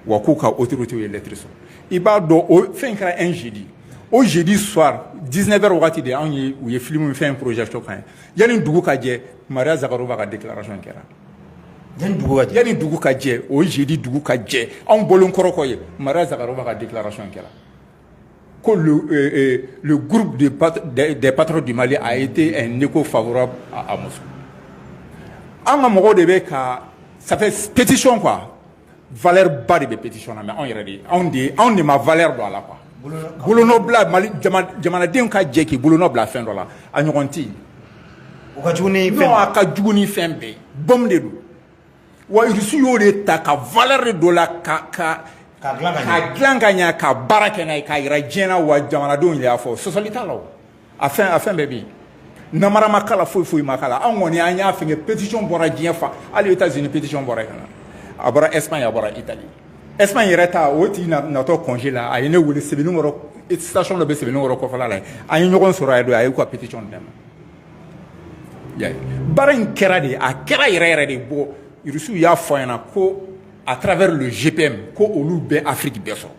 wa k'u ka otote ye lɛt sɔrɔ i b'a dɔn o fɛn kɛra e zedi o zedi suwa diinɛ bɛ waati de anw ye u ye fili min fɛn porozcɔn kan ye yanni dugu ka jɛ maria sagaruba ka de kɛra yanani dugu ka jɛ o zedi dugu ka jɛ anw bolo kɔrɔkɔ ye maria sagaruba ka de kɛra Ko le groupe des patriotes du mali a été un écho favorable à moscou an ka mɔgɔw de bɛ ka sa pétition quoi valeur ba de bɛ pétition na mais anw yɛrɛ de anw de ye anw de ma valeur don a la quoi bolola mali jamanadenw ka jɛ k'i bolonɔ bila fɛn dɔ la a ɲɔgɔn tɛ a ka jugu ni fɛn bɛɛ ye bombe de don wa irisi y'o de ta ka valeur don a la ka ka ka dilan ka ɲɛ ka dilan ka ɲɛ ka baara kɛ n'a ye k'a jira diɲɛ na wa jamanadenw yɛrɛ y'a fɔ sɔsɔli t'a la o a fɛn a fɛn bɛɛ bɛ yen namara ma k'a la foyi foyi ma k'a la anw kɔni an y'a fɛnkɛ pétition bɔra diɲɛ fan hali états unis pétition bɔra yen canada a bɔra espagne a bɔra italie espagne yɛrɛ ta o tigi natɔ congé la a ye ne wele sebenikɔrɔ station dɔ bɛ sebenikɔrɔ kɔfɛla la yen an ye ɲɔgɔn sɔrɔ a ye don a y'u ka pétition di ne ma baara in kɛra de a kɛra yɛrɛ yɛrɛ de bɔn irisiw y'a fɔ ɲɛna ko à travers le gpm ko olu bɛ afiriki bɛɛ sɔrɔ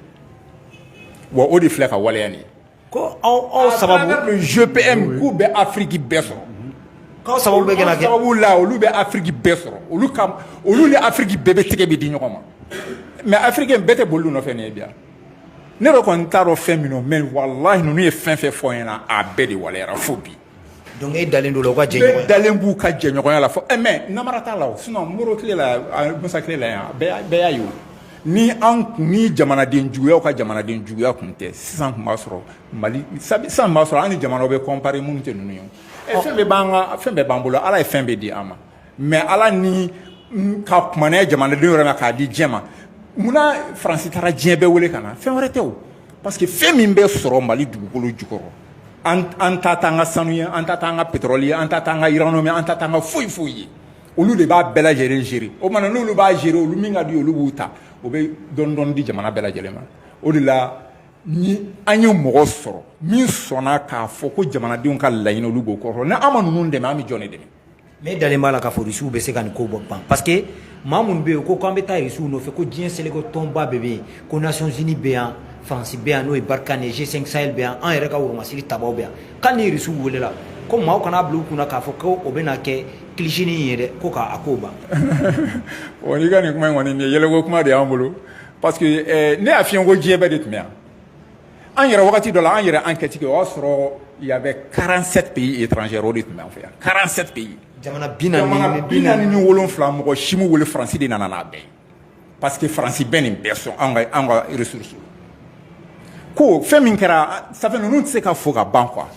wa o de filɛ ka waleya nin ko aw sababu gpm k'u bɛ afiriki bɛɛ sɔrɔ sababu bɛ kɛ sababu la olu bɛ afiriki bɛɛ sɔrɔ olu olu ni afiriki bɛɛ bɛ tɛgɛ bɛ di ɲɔgɔn ma mais afiriki bɛɛ tɛ boli u nɔfɛ ye bi ne yɛrɛ kɔni t'a dɔn fɛn min don mais walahi ninnu ye fɛn fɛn fɔ ɲɛna a bɛɛ de waleyara fo bi donc e dalen don la u ka jɛɲɔgɔnya ne dalen b'u ka jɛɲɔgɔnya la fo eh, mais namara t'a la o sinon modibo tile la musa tile la yan bɛɛ y'a ye o ni an kun ni jamanaden juguyaw ka jamanaden juguya kun tɛ sisan kun b'a sɔrɔ mali sisan b'a sɔrɔ an ni jamanaw bɛ kɔnpare minnu tɛ ninnu ye eh, fɛn bɛɛ b'an ka fɛn bɛɛ b'an bolo ala ye fɛn bɛɛ di an ma mais ala ni ka ko minɛ jamanadenw yɛrɛ la k'a di diɲɛ ma munna faransi taara diɲɛ bɛɛ wele ka na fɛn wɛrɛ tɛ o parce que fɛn min bɛ sɔrɔ mali dugukolo jukɔrɔ an ta t'an ka sanu ye an ta t'an ka pétrole ye an ta t'an ka uranium ye an ta t'an ka foyi foyi ye olu de b'a bɛɛ lajɛlen gérer o mana n'olu b'a gérer olu min ka di olu b'o ta o bɛ dɔɔni dɔɔni di jamana bɛɛ lajɛlen ma o de la ni an ye mɔgɔ sɔrɔ min sɔnna k'a fɔ ko jamanadenw ka laɲini olu b'o kɔrɔ ni an ma ninnu dɛmɛ an bɛ jɔn de dɛmɛ ne dalen b'a la k'a fɔ rusiw bɛ se ka nin ko ban parce que maa minnu bɛ yen ko k'an bɛ taa rusiw nɔfɛ ko diɲɛ seleke tɔnba bɛɛ bɛ yen ko nations unies bɛ yan faransi bɛ yan n'o ye barkhane g5 sahel bɛ yan an yɛrɛ ka woromasiri tabaw bɛ yan ko ni rusiw welela ko maaw kana a bila u kun na k'a fɔ ko o bɛna kɛ kilisinin ye dɛ ko k'a ko ban o n'i ka nin kuma in kɔni nin ye yɛlɛko kuma de y'an bolo parce que eh, ne y'a f'i ɲɛ ko diɲɛ bɛɛ de tun bɛ yan An yɛrɛ wagati dɔ la an yɛrɛ enquête kɛ o y'a sɔrɔ y avait quarante-sept pays étrangers o de tun bɛ an fɛ yan quarante-sept pays yen jamana bi naani ni wolonwula mɔgɔ si m'u wele faransi de nana n'a bɛɛ parce que faransi bɛ nin bɛɛ sɔn an ka ressources ko fɛn min kɛra ça fait ninnu tɛ se ka fɔ ka ban quoi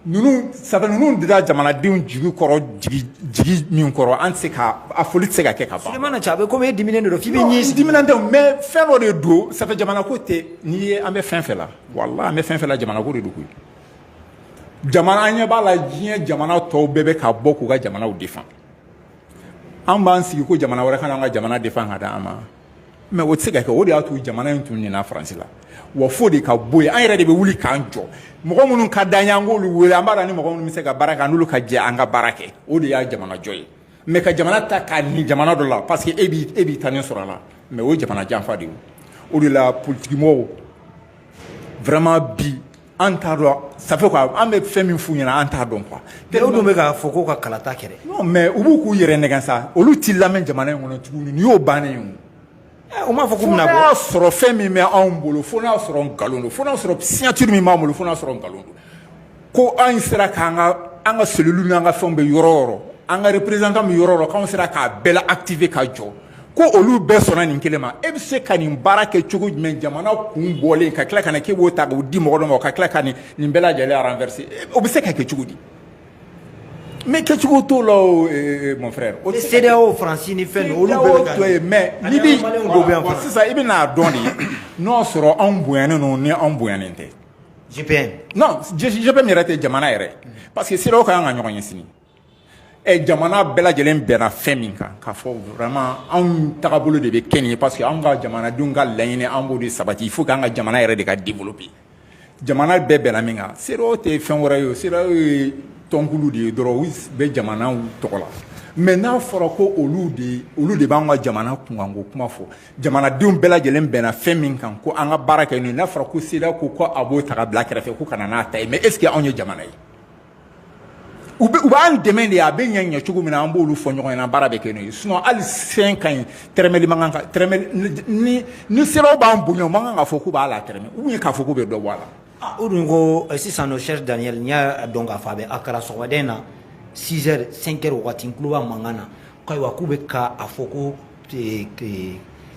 ninnu ça fait ninnu dira jamanadenw jigi kɔrɔ jigi jigi min kɔrɔ an tɛ se ka a foli tɛ se ka kɛ ka ban. Souleymane na cɛ a bɛ komi e dimininen de don f'i bɛ ɲɛ sigi. Non n dimininen tɛ mais fɛn dɔ de don ça fait jamana ko tɛ n'i ye an bɛ fɛn fɛn la walahi an bɛ fɛn fɛn la jamana ko de don koyi jamana an ɲɛ b'a la diɲɛ jamana tɔw bɛɛ bɛ ka bɔ k'u ka jamanaw defan an b'an sigi ko jamana wɛrɛ ka na an ka jamana defan ka d'an ma. mais o tɛ se ka kɛ o de y'a to jamana in tun nina faransi la wa fo o de ka bɔ yen an yɛrɛ de bɛ wuli k'an jɔ mɔgɔ minnu ka d'an ye an k'olu wele an b'a dɔn an ni mɔgɔ minnu bɛ se ka baara kɛ an n'olu ka jɛ an ka baara kɛ o de ye jamana jɔ ye mais ka jamana ta k'a ni jamana dɔ la parce que e b'i e b'i tanin sɔrɔ a la mais o ye jamana janfa de ye o de la politikimɔgɔw vraiment bi An t'a dɔn ça fait quoi an bɛ fɛn min f'u ɲɛna an t'a dɔn quoi mais u dun bɛ k'a fɔ ko ka kalata kɛ dɛ, non mais u bɛ k'u yɛrɛ nɛgɛn sa, olu tɛ lamɛn jamana in kɔnɔ tuguni nin y'u bannen ye o, u m'a fɔ k'u bɛna bɔ, fo n'a y'a sɔrɔ fɛn min bɛ anw bolo fo n'a y'a sɔrɔ nkalon don, fo n'a y'a sɔrɔ signature min b'an bolo fo n'a y'a sɔrɔ nkalon don, ko anw sera k'an ka an ka cellules n'an ka fɛnw bɛ yɔrɔ o yɔrɔ, an ka représentant bɛ yɔrɔ o yɔrɔ k'anw sera k'a bɛɛ la activer ka jɔ ko olu bɛɛ sɔnna nin kelen ma e bɛ se ka nin baara kɛ cogo jumɛn jamana kun bɔlen ka tila ka na k'e b'o ta k'o di mɔgɔ dɔ ma ka tila ka nin nin bɛɛ lajɛlen renverser o bɛ se ka kɛ cogo di mais kɛcogo t'o la o eh, eh, mon frère o CEDEAO faransi ni fɛn olu bɛɛ bɛ ka ye mais ni bi sisan i bɛna a dɔn de n'o sɔrɔ anw bonyanen don ni anw bonyanen tɛ GPM non GPM yɛrɛ tɛ jamana yɛrɛ parce que CEDEAO ka kan ka ɲɔgɔn ye sini jamana bɛɛ lajɛlen bɛnna fɛn min kan k'a fɔ vraiment anw tagabolo de bɛ kɛ nin ye parce que anw ka jamanadenw ka laɲini an b'o de sabati il faut que an ka jamana yɛrɛ de ka développer jamana bɛɛ bɛnna min kan CEDEAO tɛ fɛn wɛrɛ ye o CEDEAO ye tɔnkulu de ye dɔrɔn u bɛ jamanaw tɔgɔ la mais n'a fɔra ko olu de olu de b'an ka jamana kunkanko kuma fɔ jamanadenw bɛɛ lajɛlen bɛnna fɛn min kan ko an ka baara kɛ n'o ye n'a fɔra ko CEDEAO ko ko a b'o ta ka bila kɛrɛfɛ ko ka na n'a ta ye mais est ce que anw ye jamana ye u b'an dɛmɛ de a bɛ ɲɛ ɲɛ cogo min na an b'olu fɔ ɲɔgɔn ɲɛna baara bɛ kɛ n'o ye sinon hali cinq ans in tɛrɛmɛli man kan ka tɛrɛmɛli ni ni CEDEAO b'an bonya o man kan k'a fɔ k'u b'a la tɛrɛmɛ ou bien k'a fɔ k'u bɛ dɔ bɔ a la. Ah, o dun ko eh, sisan nɔ Serge Daniel n y'a dɔn k'a fɔ a bɛ a kɛra sɔgɔmada in na 6 heures 5 heures wagati n tulo b'a mankan na k'ayiwa k'u bɛ ka a fɔ ko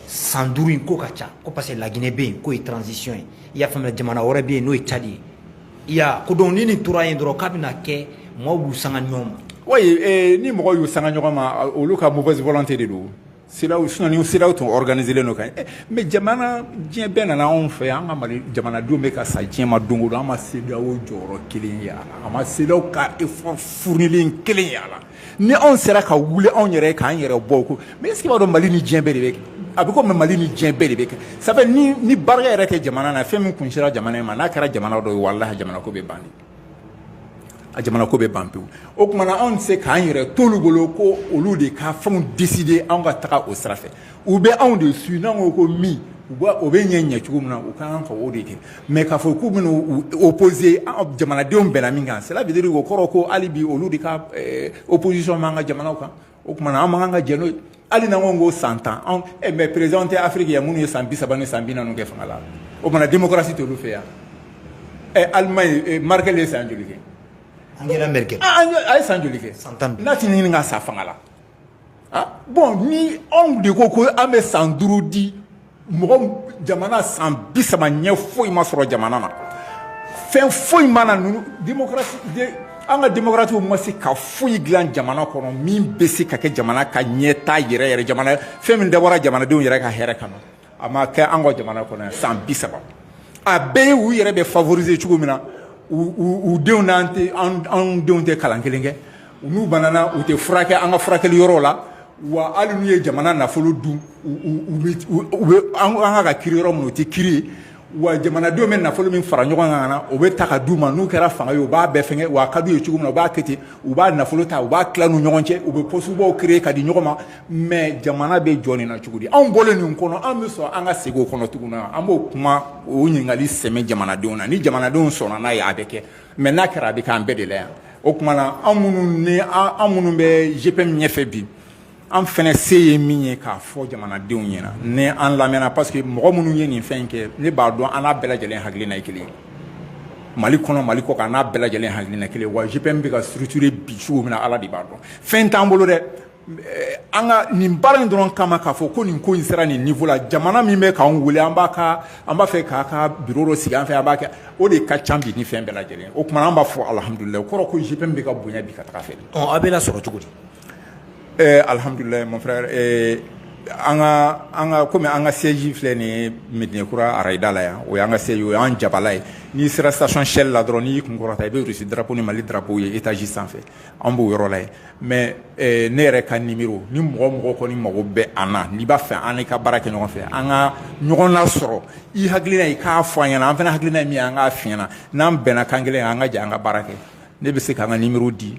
san duuru in ko ka ca ko parce que laginɛ bɛ yen k'o ye transition ye i y'a faamuya jamana wɛrɛ bɛ yen n'o ye cadi ye i y'a ko donc ni nin tora yen dɔrɔn k'a bɛna kɛ mɔgɔw b'u sanga ɲɔgɔn ma oui eh, ni mɔgɔw y'u sanga ɲɔgɔn ma olu ka mauvaise volonté de don CEDEAO sinon ni CEDEAO tun organiselen don ka ɲɛ eh, mais jamana diɲɛ bɛɛ nana anw fɛ an ka mali jamanadenw bɛ ka sa diɲɛ ma don o don an ma CEDEAO jɔyɔrɔ kelen ye a la an ma CEDEAO ka effort fournilen kelen ye a la ni anw sera ka wuli anw yɛrɛ k'an yɛrɛ bɔ ko mais est ce que i b'a dɔn mali ni diɲɛ bɛɛ de bɛ kɛ a bɛ comme mali ni diɲɛ bɛɛ de bɛ kɛ sabu ni ni barika yɛrɛ tɛ jamana na fɛn min kun sera jamana in ma n'a kɛra jamana dɔ ye wallahi jamana ko bɛ ban a jamana ko bɛ ban pewu o tumana anw se k'an yɛrɛ to olu bolo ko olu de ka fɛnw décider anw ka taga o sira u bɛ anw de su n'an ko ko min u o bɛ ɲɛ ɲɛ cogo min na u ka kan ka o de kɛ mais k'a fɔ k'u bɛ opposer jamanadenw bɛnna min kan ça veut dire o kɔrɔ ko hali bi olu de ka opposition b'an ka jamana kan o tuma an man kan ka jɛn hali n'an ko san tan mais président tɛ afiriki ye minnu ye san bisaba ni san bi kɛ fanga la o tuma démocratie tɛ yan ɛ Allemagne Merkel de ye san joli kɛ an an ye san joli kɛ san tan n'a tɛ ɲini ka sa fanga la bon ni anw de ko ko an bɛ san duuru di mɔgɔ jamana san bi saba ɲɛ foyi ma sɔrɔ jamana na fɛn foyi ma na ninnu an ka demokaratiw ma se ka foyi dilan jamana kɔnɔ min bɛ se ka kɛ jamana ka ɲɛtaa yɛrɛ yɛrɛ jamana fɛn min dabɔra jamanadenw yɛrɛ ka hɛrɛ kama a ma kɛ an ka jamana kɔnɔ yan san bi saba a bɛɛ ye u yɛrɛ bɛ favoriser cogo min na u denw n'an tɛ anw denw tɛ kalan kelen kɛ n'u banana u tɛ furakɛ an ka furakɛli yɔrɔw la wa hali n'u ye jamana nafolo dun u bɛ an ka ka kiri yɔrɔ min u tɛ kiri yen wa jamanadenw bɛ nafolo min fara ɲɔgɔn kan na o bɛ ta ka d'u ma n'u kɛra fanga ye u b'a bɛɛ fɛn wa ka d'u ye cogo min u b'a kɛ ten u b'a nafolo ta u b'a tila ni ɲɔgɔn cɛ u bɛ pɔsibaw créer ka di ɲɔgɔn ma mɛ jamana bɛ jɔ nin na cogo di anw bɔlen ninnu kɔnɔ anw bɛ sɔn an ka segin o kɔnɔ tugun na an b'o kuma o ɲininkali sɛmɛ jamanadenw na ni jamanadenw sɔnna n'a ye a bɛ kɛ mɛ n'a kɛra a bɛ kɛ an bɛɛ de la yan o tuma na anw minnu minnu bɛ jpm ɲɛfɛ bi an fana se ye min ye k'a fɔ jamanadenw ɲɛna ni an lamɛnna parce que mɔgɔ minnu ye nin fɛn kɛ ne b'a dɔn an n'a bɛɛ lajɛlen hakilina ye kelen mali kɔnɔ mali kɔ kan n'a bɛɛ lajɛlen hakilina kelen wa jpm bɛ ka structure bi cogo min na ala de b'a dɔn fɛn t'an bolo dɛ eh, an ka nin baara in dɔrɔn kama k'a fɔ ko nin ko in sera nin niveau la jamana min bɛ k'an wele an b'a ka an b'a fɛ k'a ka biro dɔ sigi an fɛ an b'a kɛ o de ka ca bi ni fɛn bɛɛ lajɛlen o tuma an b'a fɔ alihamudulilayi o kɔrɔ ko jpm bɛ ka bonya bi ka taga fɛ. ɔ a bɛ lasɔrɔ cogo di. Ee alihamdulila mon frère an ka kɔmi an ka siège filɛ nin ye mɛdinakura arayida la yan o y'an ka siège o y'an jabala ye n'i sera station shell la dɔrɔn n'i y'i kun kɔrɔta i bɛ irisi darapo ni mali darapo ye etazi sanfɛ an b'o yɔrɔ la yen mɛ ne yɛrɛ ka nimero ni mɔgɔ mɔgɔ kɔni mago bɛ an na n'i b'a fɛ an ka baara kɛ ɲɔgɔn fɛ an ka ɲɔgɔn lasɔrɔ i hakilila i k'a fɔ an ɲɛna an fana hakilina min an k'a f'i ɲɛna n'an bɛnna kan kelen an ka jɛ an ka baara kɛ ne bɛ se ka n ka nimero di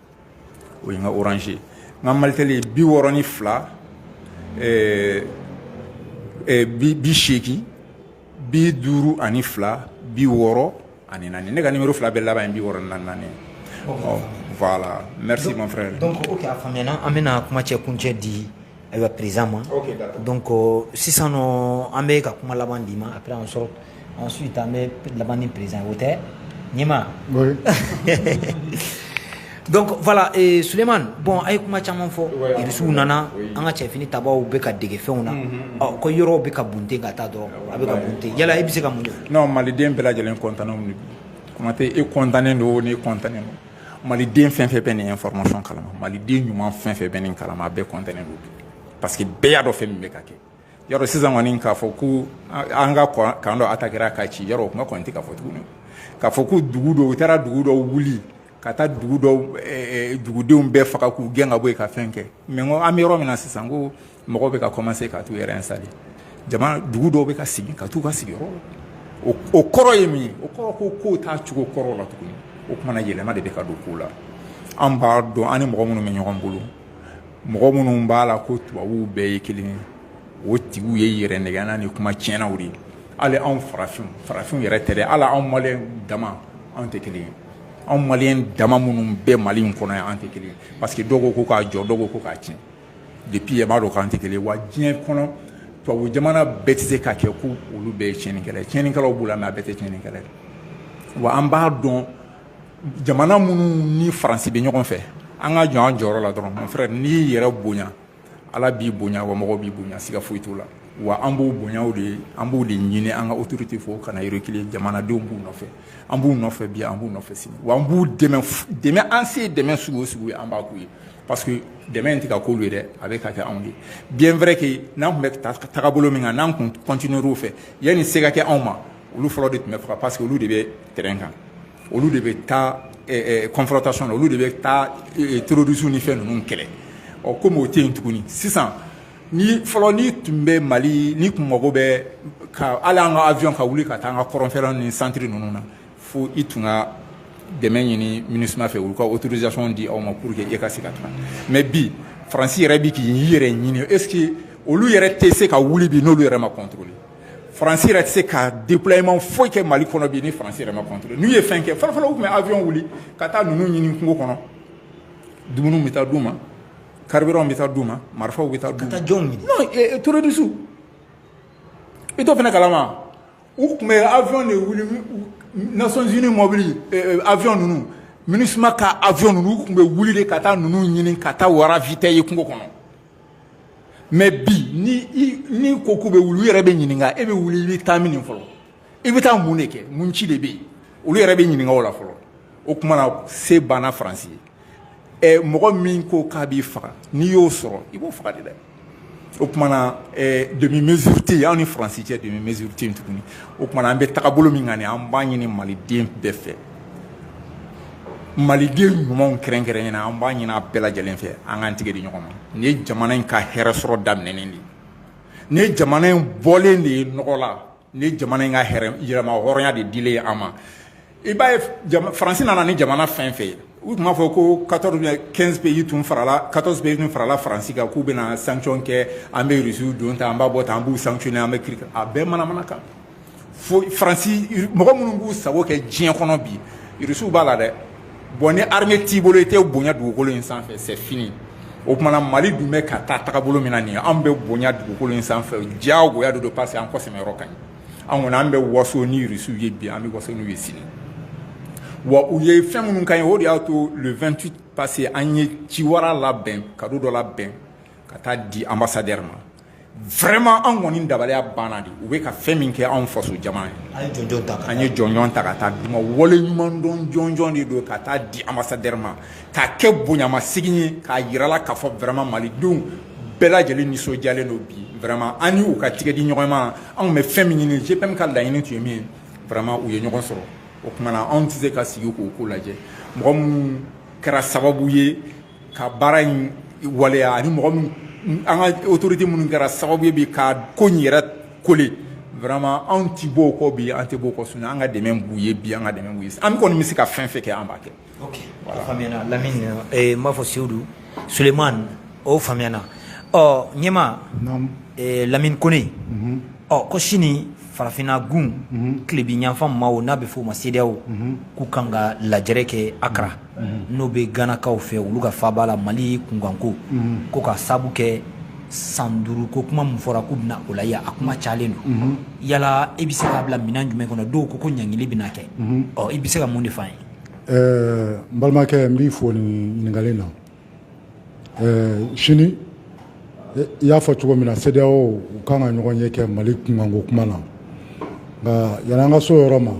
o ye n ka orange ye n ka malitɛli ye bi wɔɔrɔ ni fila ɛɛ ɛɛ bi bi seegin bi duuru ani fila bi wɔɔrɔ ani naani ne ka nimero fila bɛɛ laban ye bi wɔɔrɔ ni naani ye ɔ voilà merci mon frère donc ok a faamuyana an bɛna kuma cɛ kuncɛ di Ayiwa président ma donc sisan an bɛ ka kuma laban d'i ma après an sɔrɔ ensuite an bɛ laban ni président o tɛ ɲɛma donc voilà suleyimani bon an ye kuma caman fɔ irisiw nana an ka cɛ finitabaw bɛ ka dege fɛnw na ɔ ko yɔrɔ bɛ ka bunte ka taa dɔrɔn a bɛ bunte yala i bɛ se ka mun maliden bɛɛ lajɛlen kɔntanw kuma tɛ e kɔntannen don ni kɔntan ma Mali den fɛn fɛn bɛ nin information kalama Mali den ɲuman fɛn fɛn bɛ nin kalama a bɛɛ kɔntannen don bi parce que bɛɛ y'a dɔn fɛn min bɛ ka kɛ yɔrɔ sisan kɔni k'a fɔ ko an ka kan dɔ atakera ka ci yɛrɛ o kuma kɔni tɛ ka fɔ tuguni k'a fɔ ko dugu dɔw u taara dugu dɔw wuli ka taa dugu dɔw dugudenw bɛɛ faga k'u gɛn ka bɔ yen ka fɛn kɛ mɛ ko an bɛ yɔrɔ min na sisan ko mɔgɔw bɛ ka kɔmanse ka t'u yɛrɛ installé jama dugu dɔw bɛ ka segin ka t'u ka sigiyɔrɔ la o kɔrɔ ye mun ye o kɔrɔ ko kow t'a cogo kɔrɔ la tuguni o kumana yɛlɛma de bɛ ka don kow la an b'a dɔn an ni mɔgɔ minnu bɛ ɲɔgɔn bolo mɔgɔ minnu b'a la ko tubabuw bɛɛ ye kelen ye o tigiw ye yɛrɛnɛgɛnna ni kuma tiɲɛnaw de ye hali anw farafinw farafinw yɛrɛ tɛ dɛ hali anw maliyɛn dama anw tɛ kelen ye anw maliyɛn dama minnu bɛ mali in kɔnɔ yan an tɛ kelen ye parce que dɔw ko ko k'a jɔ dɔw ko ko k'a tiɲɛ depuis yen i b'a dɔn k'an tɛ kelen ye wa diɲɛ kɔnɔ tubabu jamana bɛɛ tɛ se ka kɛ ko olu bɛɛ ye tiɲɛnikɛla ye tiɲɛnikɛlaw b'u la mais a bɛɛ tɛ tiɲɛnikɛla ye wa an b'a dɔn jamana minnu ni faransi bɛ ɲɔgɔn fɛ an ka jɔ an jɔyɔrɔ la dɔrɔn mon frère n'i y'i yɛrɛ bonya ala b'i bonya wa mɔgɔ b'i bonya siga foyi t'o la wa an b'o bonyaw de ye an b'o de ɲini an ka autoritéw fɛ u kana reculer jamanadenw b'u nɔfɛ an b'u nɔfɛ bi an b'u nɔfɛ sini wa an b'u dɛmɛ dɛmɛ an se dɛmɛ sugu o sugu ye an b'a k'u ye parce que dɛmɛ in tɛ ka k'olu ye dɛ a bɛ ka kɛ anw ye bien vrai que n'an tun bɛ tagabolo min kan n'an tun continuer o fɛ yanni se ka kɛ anw ma olu fɔlɔ de tun bɛ faga parce que olu de bɛ terrain kan olu de bɛ taa confrontation olu de bɛ taa terrorisiw ni fɛn ninnu kɛlɛ ɔ kɔmi o tɛ yen tuguni sisan ni fɔlɔ ni tun bɛ mali n'i tun mago bɛ a la an ka avion ka wuli ka taa an ka kɔrɔnfɛla ni santiri ninnu na fo i tun ka dɛmɛ ɲini minusima fɛ olu ka autorisation di aw ma pour que e ka se ka taa mɛ bi faransi yɛrɛ bɛ k'i yɛrɛ ɲini est-ce que olu yɛrɛ tɛ se ka wuli bi n'olu yɛrɛ ma contrôlé faransi yɛrɛ tɛ se ka déploiement foyi kɛ mali kɔnɔ bi ni faransi yɛrɛ ma contrôlé n'u ye fɛn kɛ fɔlɔfɔlɔ u tun bɛ avion wuli ka taa ninnu ɲini kungo kɔnɔ dumuniw bɛ taa d'u ma carburant bɛ taa d'u ma marifaw bɛ taa d'u ma non eh, terrorisiw i t'o fana kalama u tun bɛ avion de wuli nations unies mɔbili eh, eh, avion ninnu minusima ka avion ninnu u tun bɛ wuli de ka taa ninnu ɲini ka taa u ravitailler kungo kɔnɔ mɛ bi n'i ko k'u bɛ wuli u yɛrɛ bɛ ɲininka e bɛ wuli i bɛ taa min fɔlɔ i bɛ taa mun de kɛ mun ci de bɛ yen olu yɛrɛ bɛ ɲininka o la fɔlɔ o tumana se banna faransi ye mɔgɔ min ko k'a b'i faga n'i y'o sɔrɔ i b'o faga de dɛ o tumana demi mesure tɛ yen anw ni faransi cɛ demi mesure tɛ yen tuguni o tumana an bɛ tagabolo min kan nin ye an b'a ɲini maliden bɛɛ fɛ maliden ɲumanw kɛrɛnkɛrɛnnenya la an b'a ɲini a bɛɛ lajɛlen fɛ an k'an tigɛ di ɲɔgɔn ma nin ye jamana in ka hɛrɛ sɔrɔ daminɛnen de ye nin ye jamana in bɔlen de ye nɔgɔ la nin ye jamana in ka hɛrɛ yɛrɛmahɔrɔnya de dilen ye an ma i b'a ye faransi nana ni jamana fɛn fɛn ye u tun b'a fɔ ko 14 ou bien 15 pays tun farala 14 pays tun farala faransi kan k'u bɛna sanction kɛ an bɛ rusiw don tan an b'a bɔ tan an b'u sanctionner an bɛ kiri a bɛɛ manamana kan fo Faransi mɔgɔ minnu b'u sago kɛ diɲɛ kɔnɔ bi irisiw b'a la dɛ bon ni armée t'i bolo i tɛ bonya dugukolo in sanfɛ c'est fini o tuma na Mali dun bɛ ka taa tagabolo min na nin ye anw bɛ bonya dugukolo in sanfɛ diyagoya de don parce que an kɔsɛmɛ yɔrɔ ka ɲi an kɔni an bɛ waso ni irisiw ye bi an bɛ waso n'u ye sini wa u ye fɛn minnu ka ɲi o de y'a to le 28 parce que an ye ciwara labɛn kado dɔ labɛn ka taa di ambassadeur ma vraiment anw kɔni dabaliya banna de u bɛ ka fɛn min kɛ anw faso jamana ye an ye jɔnjɔn ta ka taa d'u ma waleɲumandɔn jɔnjɔn de don ka taa di ambassadeur ma k'a kɛ bonyamasegin ye k'a jira a la k'a fɔ vraiment malidenw bɛɛ lajɛlen nisɔndiyalen don bima an y'u ka tɛgɛdiɲɔgɔnma anw bɛ fɛn min ɲini ji min ka laɲini tun ye min yema u ye ɲɔgɔn sɔrɔ o tuma na anw tɛ se ka sigi k'o ko lajɛ mɔgɔ minnu kɛra sababu ye ka baara in waleya ani mɔgɔ min an ka autorité minnu kɛra sababu ye bi ka ko in yɛrɛ kole vraiment anw ti b'o kɔ bi an tɛ b'o kɔ sini an ka dɛmɛ b'u ye bi an ka dɛmɛ b'u ye an kɔni bɛ se ka fɛn fɛn kɛ an b'a kɛ. ok a faamuyana Lamini eh, n b'a fɔ Seyidu Sulemani o faamuyana ɔ ɲɛma eh, Lamini Kone ɔ ko sini farafinna gun mhm. tilebiyanfan maaw n'a bɛ f'o ma sedeyaw mhm. k'u kan ka lajɛrɛ kɛ akra mhm. n'o bɛ ganakaw fɛ olu ka faaba la mali kunkanko ko ka sabu kɛ san duuru ko kuma min fɔra k'u bɛna o lajɛ a kuma cayalen don yala i bɛ se k'a bila minɛn jumɛn kɔnɔ dɔw ko ko ɲangili bɛna kɛ ɔ i bɛ se ka mun de f'an ye n balimakɛ n b'i fo nin ɲininkali na sini i y'a fɔ cogo min na sedeyaw u kan ka ɲɔgɔn ye kɛ mali kunkanko kuma na nka yan an ka so yɔrɔ ma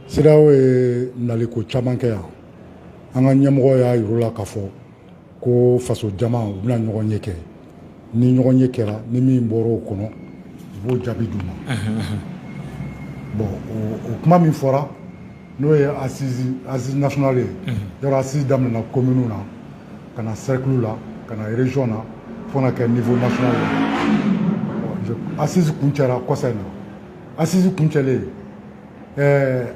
sedeyaw ye naliko caman kɛ yan an ka ɲɛmɔgɔ y'a yira u la k'a fɔ ko faso jama u bɛna ɲɔgɔn ye kɛ ni ɲɔgɔn ye kɛra ni min bɔra o kɔnɔ u b'o jaabi d'u ma bɔn o kuma min fɔra n'o ye asisi nasonali ye yɔrɔ asisi daminɛna komini na ka na sɛrikulu la ka na rezɔn na fo na kɛ nivo nasonali ye asisi kuncɛra kɔsa in na asisi kuncɛlen ɛɛ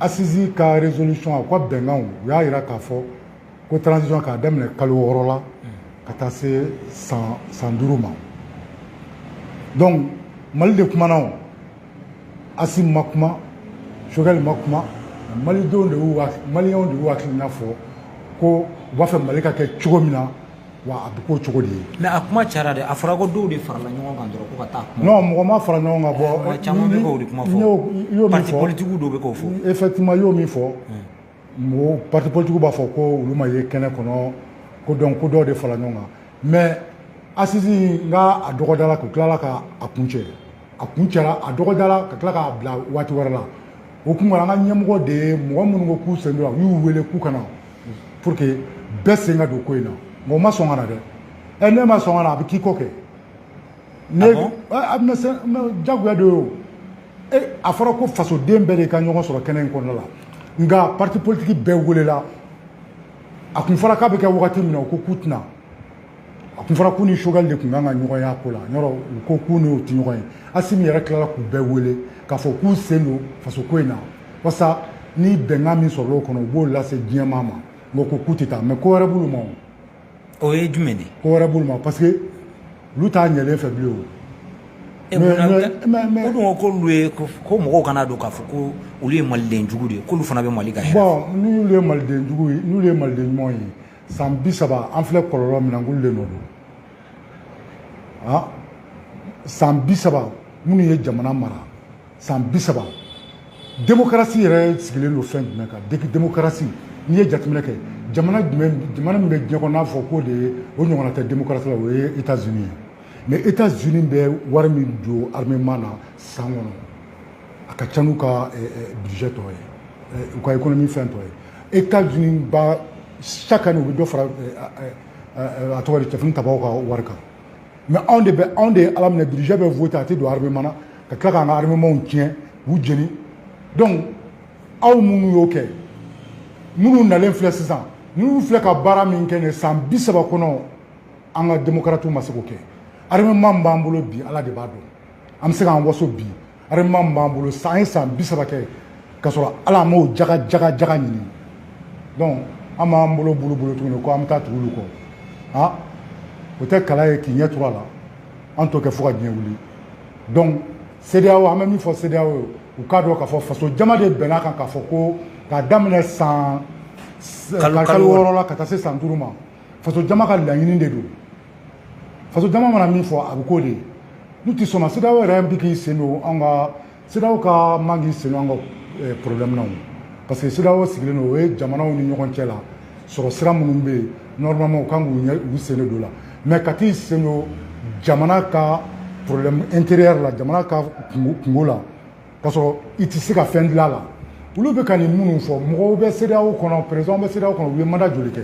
asisi ka rezolisɔn a ka bɛnkanw u y'a yira k'a fɔ ko taranzisɔn k'a daminɛ kalo wɔɔrɔ la ka taa se san san duuru ma donc mali de kumana o Asimi ma kuma Sogɛli ma kuma malidenw de y'u malidenw de y'u hakilina fɔ ko u b'a fɛ mali ka kɛ cogo min na wa a bɛ k'o cogo de ye. mais a kuma cayara dɛ a fɔra ko dɔw de farala ɲɔgɔn kan dɔrɔn ko ka taa kuma. non mɔgɔ ma fara ɲɔgɔn kan bon. caman bɛ k'o de kuma fɔ. n y'o min fɔ parti politigiw dɔw bɛ k'o fɔ. effectivement n y'o min fɔ. mɔgɔw parti politique b'a fɔ ko olu ma ye kɛnɛ kɔnɔ ko donc ko dɔw de fara ɲɔgɔn kan mais assises nka a dɔgɔdala k'u tilala ka a kuncɛ a kuncɛra a dɔgɔdala ka tila k'a bila waati wɛrɛ la o kɔnɔna la an ka ɲɛmɔgɔ de ye mɔgɔ minnu ko k'u sen t'o la a y'u wele k'u ka na pour que bɛɛ sen ka don ko in na mɔgɔ ma sɔn ka na dɛ ɛ n'i ma sɔn ka na a bɛ k'i kɔ kɛ ne ah a bɛna se jagoya de y'o e a fɔra ko fasoden bɛɛ de ka ɲɔgɔn sɔrɔ kɛnɛ in kɔnɔna la nka parti politique bɛɛ welela a kun fɔra k'a bɛ kɛ wagati min na u ko k'u tɛ na a kun fɔra k'u ni Choguel de tun kan ka ɲɔgɔn y'a ko la yɔrɔ u ko k'u n'o tɛ ɲɔgɔn ye Assimi yɛrɛ tilala k'u bɛɛ wele k'a fɔ k'u sen don faso ko in na walasa ni bɛnkan min sɔrɔla o kɔnɔ u b'o lase diɲɛmaa ma nka u ko k'u tɛ taa mais ko wɛrɛ b'olu ma o. o ye jumɛn de ye ko wɛrɛ b'olu ma parce que olu t'a ɲɛlen fɛ bilen o e mais- munna- mais- e- mais- mais- o dun ko k'olu ye ko ko mɔgɔw kana to k'a fɔ ko olu ye maliden jugu de ye k'olu fana bɛ mali ka hɛrɛ bon n'olu ye maliden jugu ye n'olu ye maliden ɲumanw ye san bi saba an filɛ kɔlɔlɔ min na k'olu de nɔ don han san bi saba minnu ye jamana mara san bi saba demokarasi yɛrɛ sigilen don fɛn jumɛn kan deki demokarasi n'i ye jateminɛ kɛ jamana jumɛn jamana min bɛ diɲɛ kɔnɔ n'a fɔ k'o de ye o ɲɔgɔnna tɛ demokarasi la o ye etats unis ye mais etats unis bɛ wari min don armement na san kɔnɔ a ka ca n'u ka eh, eh, budget tɔ ye eh, u ka économie fɛn tɔ ye etats unis ba chaque année u bɛ dɔ fara a tɔgɔ di cɛfini tabaw ka wari kan mais anw de bɛ anw de ye ala minɛ budget bɛ voter a tɛ don armement na ka tila k'an ka armementw tiɲɛ k'u jeni donc aw minnu y'o kɛ ninnu nalen filɛ sisan ninnu filɛ ka baara min kɛ ne san bi saba kɔnɔ an ka démocratiw ma se k'o kɛ armement min b'an bolo bi ala de b'a dɔn an bɛ se k'an waso bi Armement b'an bolo sa an ye san bi saba kɛ ka sɔrɔ ala m'o ja jaga jaga ɲini donc an b'an bolo bolo bolo tuguni ko an bɛ taa tugu olu kɔ aa o tɛ kala ye k'i ɲɛ cogoya la an t'o kɛ fo ka diɲɛ wuli donc CEDEAO an bɛ min fɔ CEDEAO u k'a dɔn k'a fɔ faso jama de bɛnna a kan k'a fɔ ko k'a daminɛ san kalo wɔɔrɔ la ka taa se san duuru ma faso jama ka laɲini de don faso jama mana min fɔ a bɛ k'o de ye n'u tɛ sɔn a ma CEDEAO yɛrɛ bɛ k'i sen don an ka CEDEAO ka man k'i sen don an ka eh, problème na o parce que CEDEAO sigilen don o ye jamanaw ni ɲɔgɔn cɛ la sɔrɔ sira minnu bɛ yen normalement u kan k'u ɲɛ u sen don o la mais ka taa i sen don jamana ka problème intérieur la jamana ka kunko kunko la ka sɔrɔ i tɛ se ka fɛn dilan la olu bɛ ka nin minnu fɔ mɔgɔw bɛ CEDEAO kɔnɔ président bɛ CEDEAO kɔnɔ u ye manda joli kɛ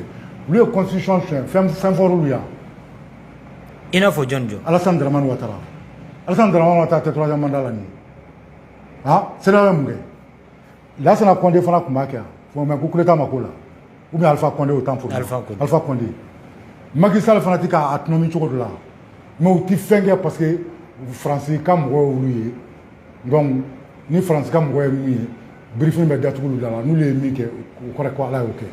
olu ye constitution siyɛn fɛn fɛn fɔra olu yan i n'a fɔ jɔni jɔni Alassane Dramane Ouattara Alassane Dramane Ouattara tɛ troisième mandat la nin ah CEDEAO ye mun kɛ Lassana Conde fana tun b'a kɛ yan fɔ mɛ ko coup d'état ma k'o la ou bien Alpha Conde au temps pour Alpha Conde Alpha Conde Macky Sall fana tɛ k'a tɔnɔmi cogo dɔ la mɛ u tɛ fɛn kɛ parce que France ka mɔgɔw y'olu ye donc ni faransi ka mɔgɔ ye min ye birifini bɛ datugu olu da la n'olu ye min kɛ o kɔrɔ ko ala y'o kɛ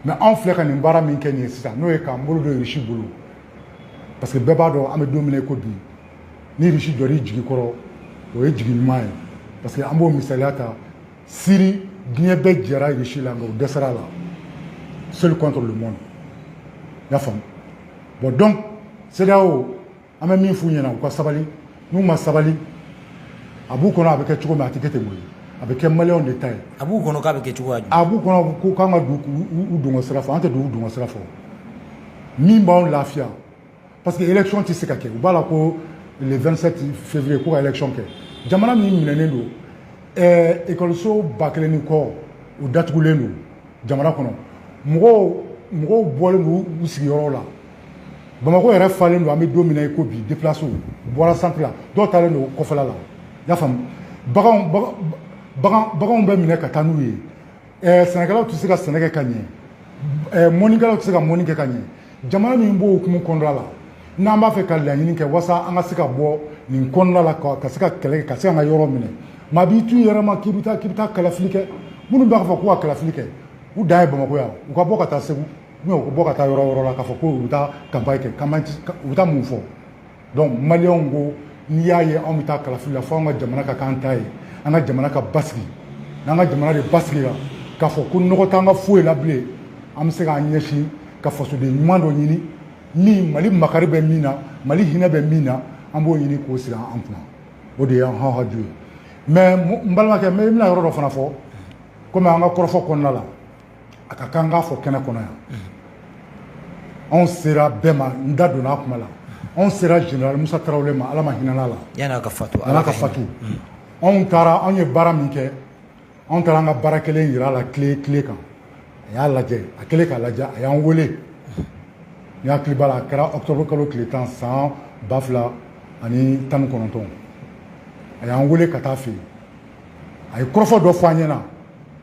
mɛ anw filɛ ka nin baara min kɛ nin ye sisan n'o ye k'an bolo don risi bolo parce que bɛɛ b'a dɔn an bɛ don min ko bi ni risi jɔr'i jigi kɔrɔ o ye jigi ɲuman ye parce que an b'o misaliya ta siri diɲɛ bɛɛ jɛra risi la nka o dɛsɛra a la seul contre le monde i y'a faamu bon donc CEDEAO an bɛ min f'u ɲɛna u ka sabali n'u ma sabali a b'u kɔnɔ a bɛ kɛ cogo min a tɛ kɛ ten koyi a bɛ kɛ maliyɛnw de ta ye a b'u kɔnɔ k'a bɛ kɛ cogoya a b'u kɔnɔ ko k'an ka u dungɔ sira fɛ an tɛ don u dungɔ sira fo min b'anw lafiya parce que élection tɛ se ka kɛ u b'a la ko le 27 février ko ka élection kɛ jamana min minɛnen don ɛɛ ekɔliso ba kelen ni kɔ u datugulen don jamana kɔnɔ mɔgɔw mɔgɔw bɔlen don u sigiyɔrɔw la bamakɔ yɛrɛ falen don an bɛ don min na i ko bi deplasiw bɔra santiri la dɔw taalen don kɔfɛla la y'a faamu baganw bagan baganw bɛ minɛ ka taa n'u ye ɛɛ sɛnɛkɛlaw tɛ se ka sɛnɛ kɛ ka ɲɛ ɛɛ mɔnikɛlaw tɛ se ka mɔni kɛ ka ɲɛ jamana min b'o hukumu kɔnɔna la n'an b'a fɛ ka laɲini kɛ walasa an ka se ka bɔ nin kɔnɔna la ka se ka kɛlɛ kɛ ka se ka yɔrɔ minɛ maa b'i t'u yɛrɛ ma k'i bɛ taa k'i bɛ taa kalafili kɛ minnu b'a fɔ ko ka kalafili kɛ u dan ye bamakɔ yan u ka bɔ ka taa segu u ka bɔ ka taa yɔrɔ yɔrɔ la k'a fɔ ko u bɛ taa kanpaɲi kɛ u bɛ taa mun fɔ donc maliyɛnw ko n'i y'a ye anw bɛ taa kalafili la fo an ka jamana ka k'an ta ye an ka jamana ka basigi n'an ka jamana de basigila k'a fɔ ko nɔgɔ t'an ka foyi la bilen an bɛ se k'an ɲɛsin ka fasoden ɲuman dɔ ɲini min mali makari bɛ min na mali hinɛ bɛ min na an b'o ɲini k'o sigi an kunna o de y'an haju ye mɛ n balimakɛ n bɛna yɔrɔ dɔ fana fɔ komi an ka kɔrɔfɔ kɔnɔna la a ka kan k'a fɔ kɛnɛ kɔnɔ yan anw sera bɛɛ ma n da donna a kuma la anw sera général Musa Tarawele ma Ala ma hinɛ a la yan'a ka fatu yan'a ka fatu anw taara anw ye baara min kɛ anw taara an ka baara kɛlen yira a la tile tile kan a y'a lajɛ a kɛlen k'a lajɛ a y'an wele n hakili b'a la a kɛra octobre kalo tile tan san ba fila ani tan ni kɔnɔntɔn a y'an wele ka taa a fɛ yen a ye kɔrɔfɔ dɔ fɔ an ɲɛna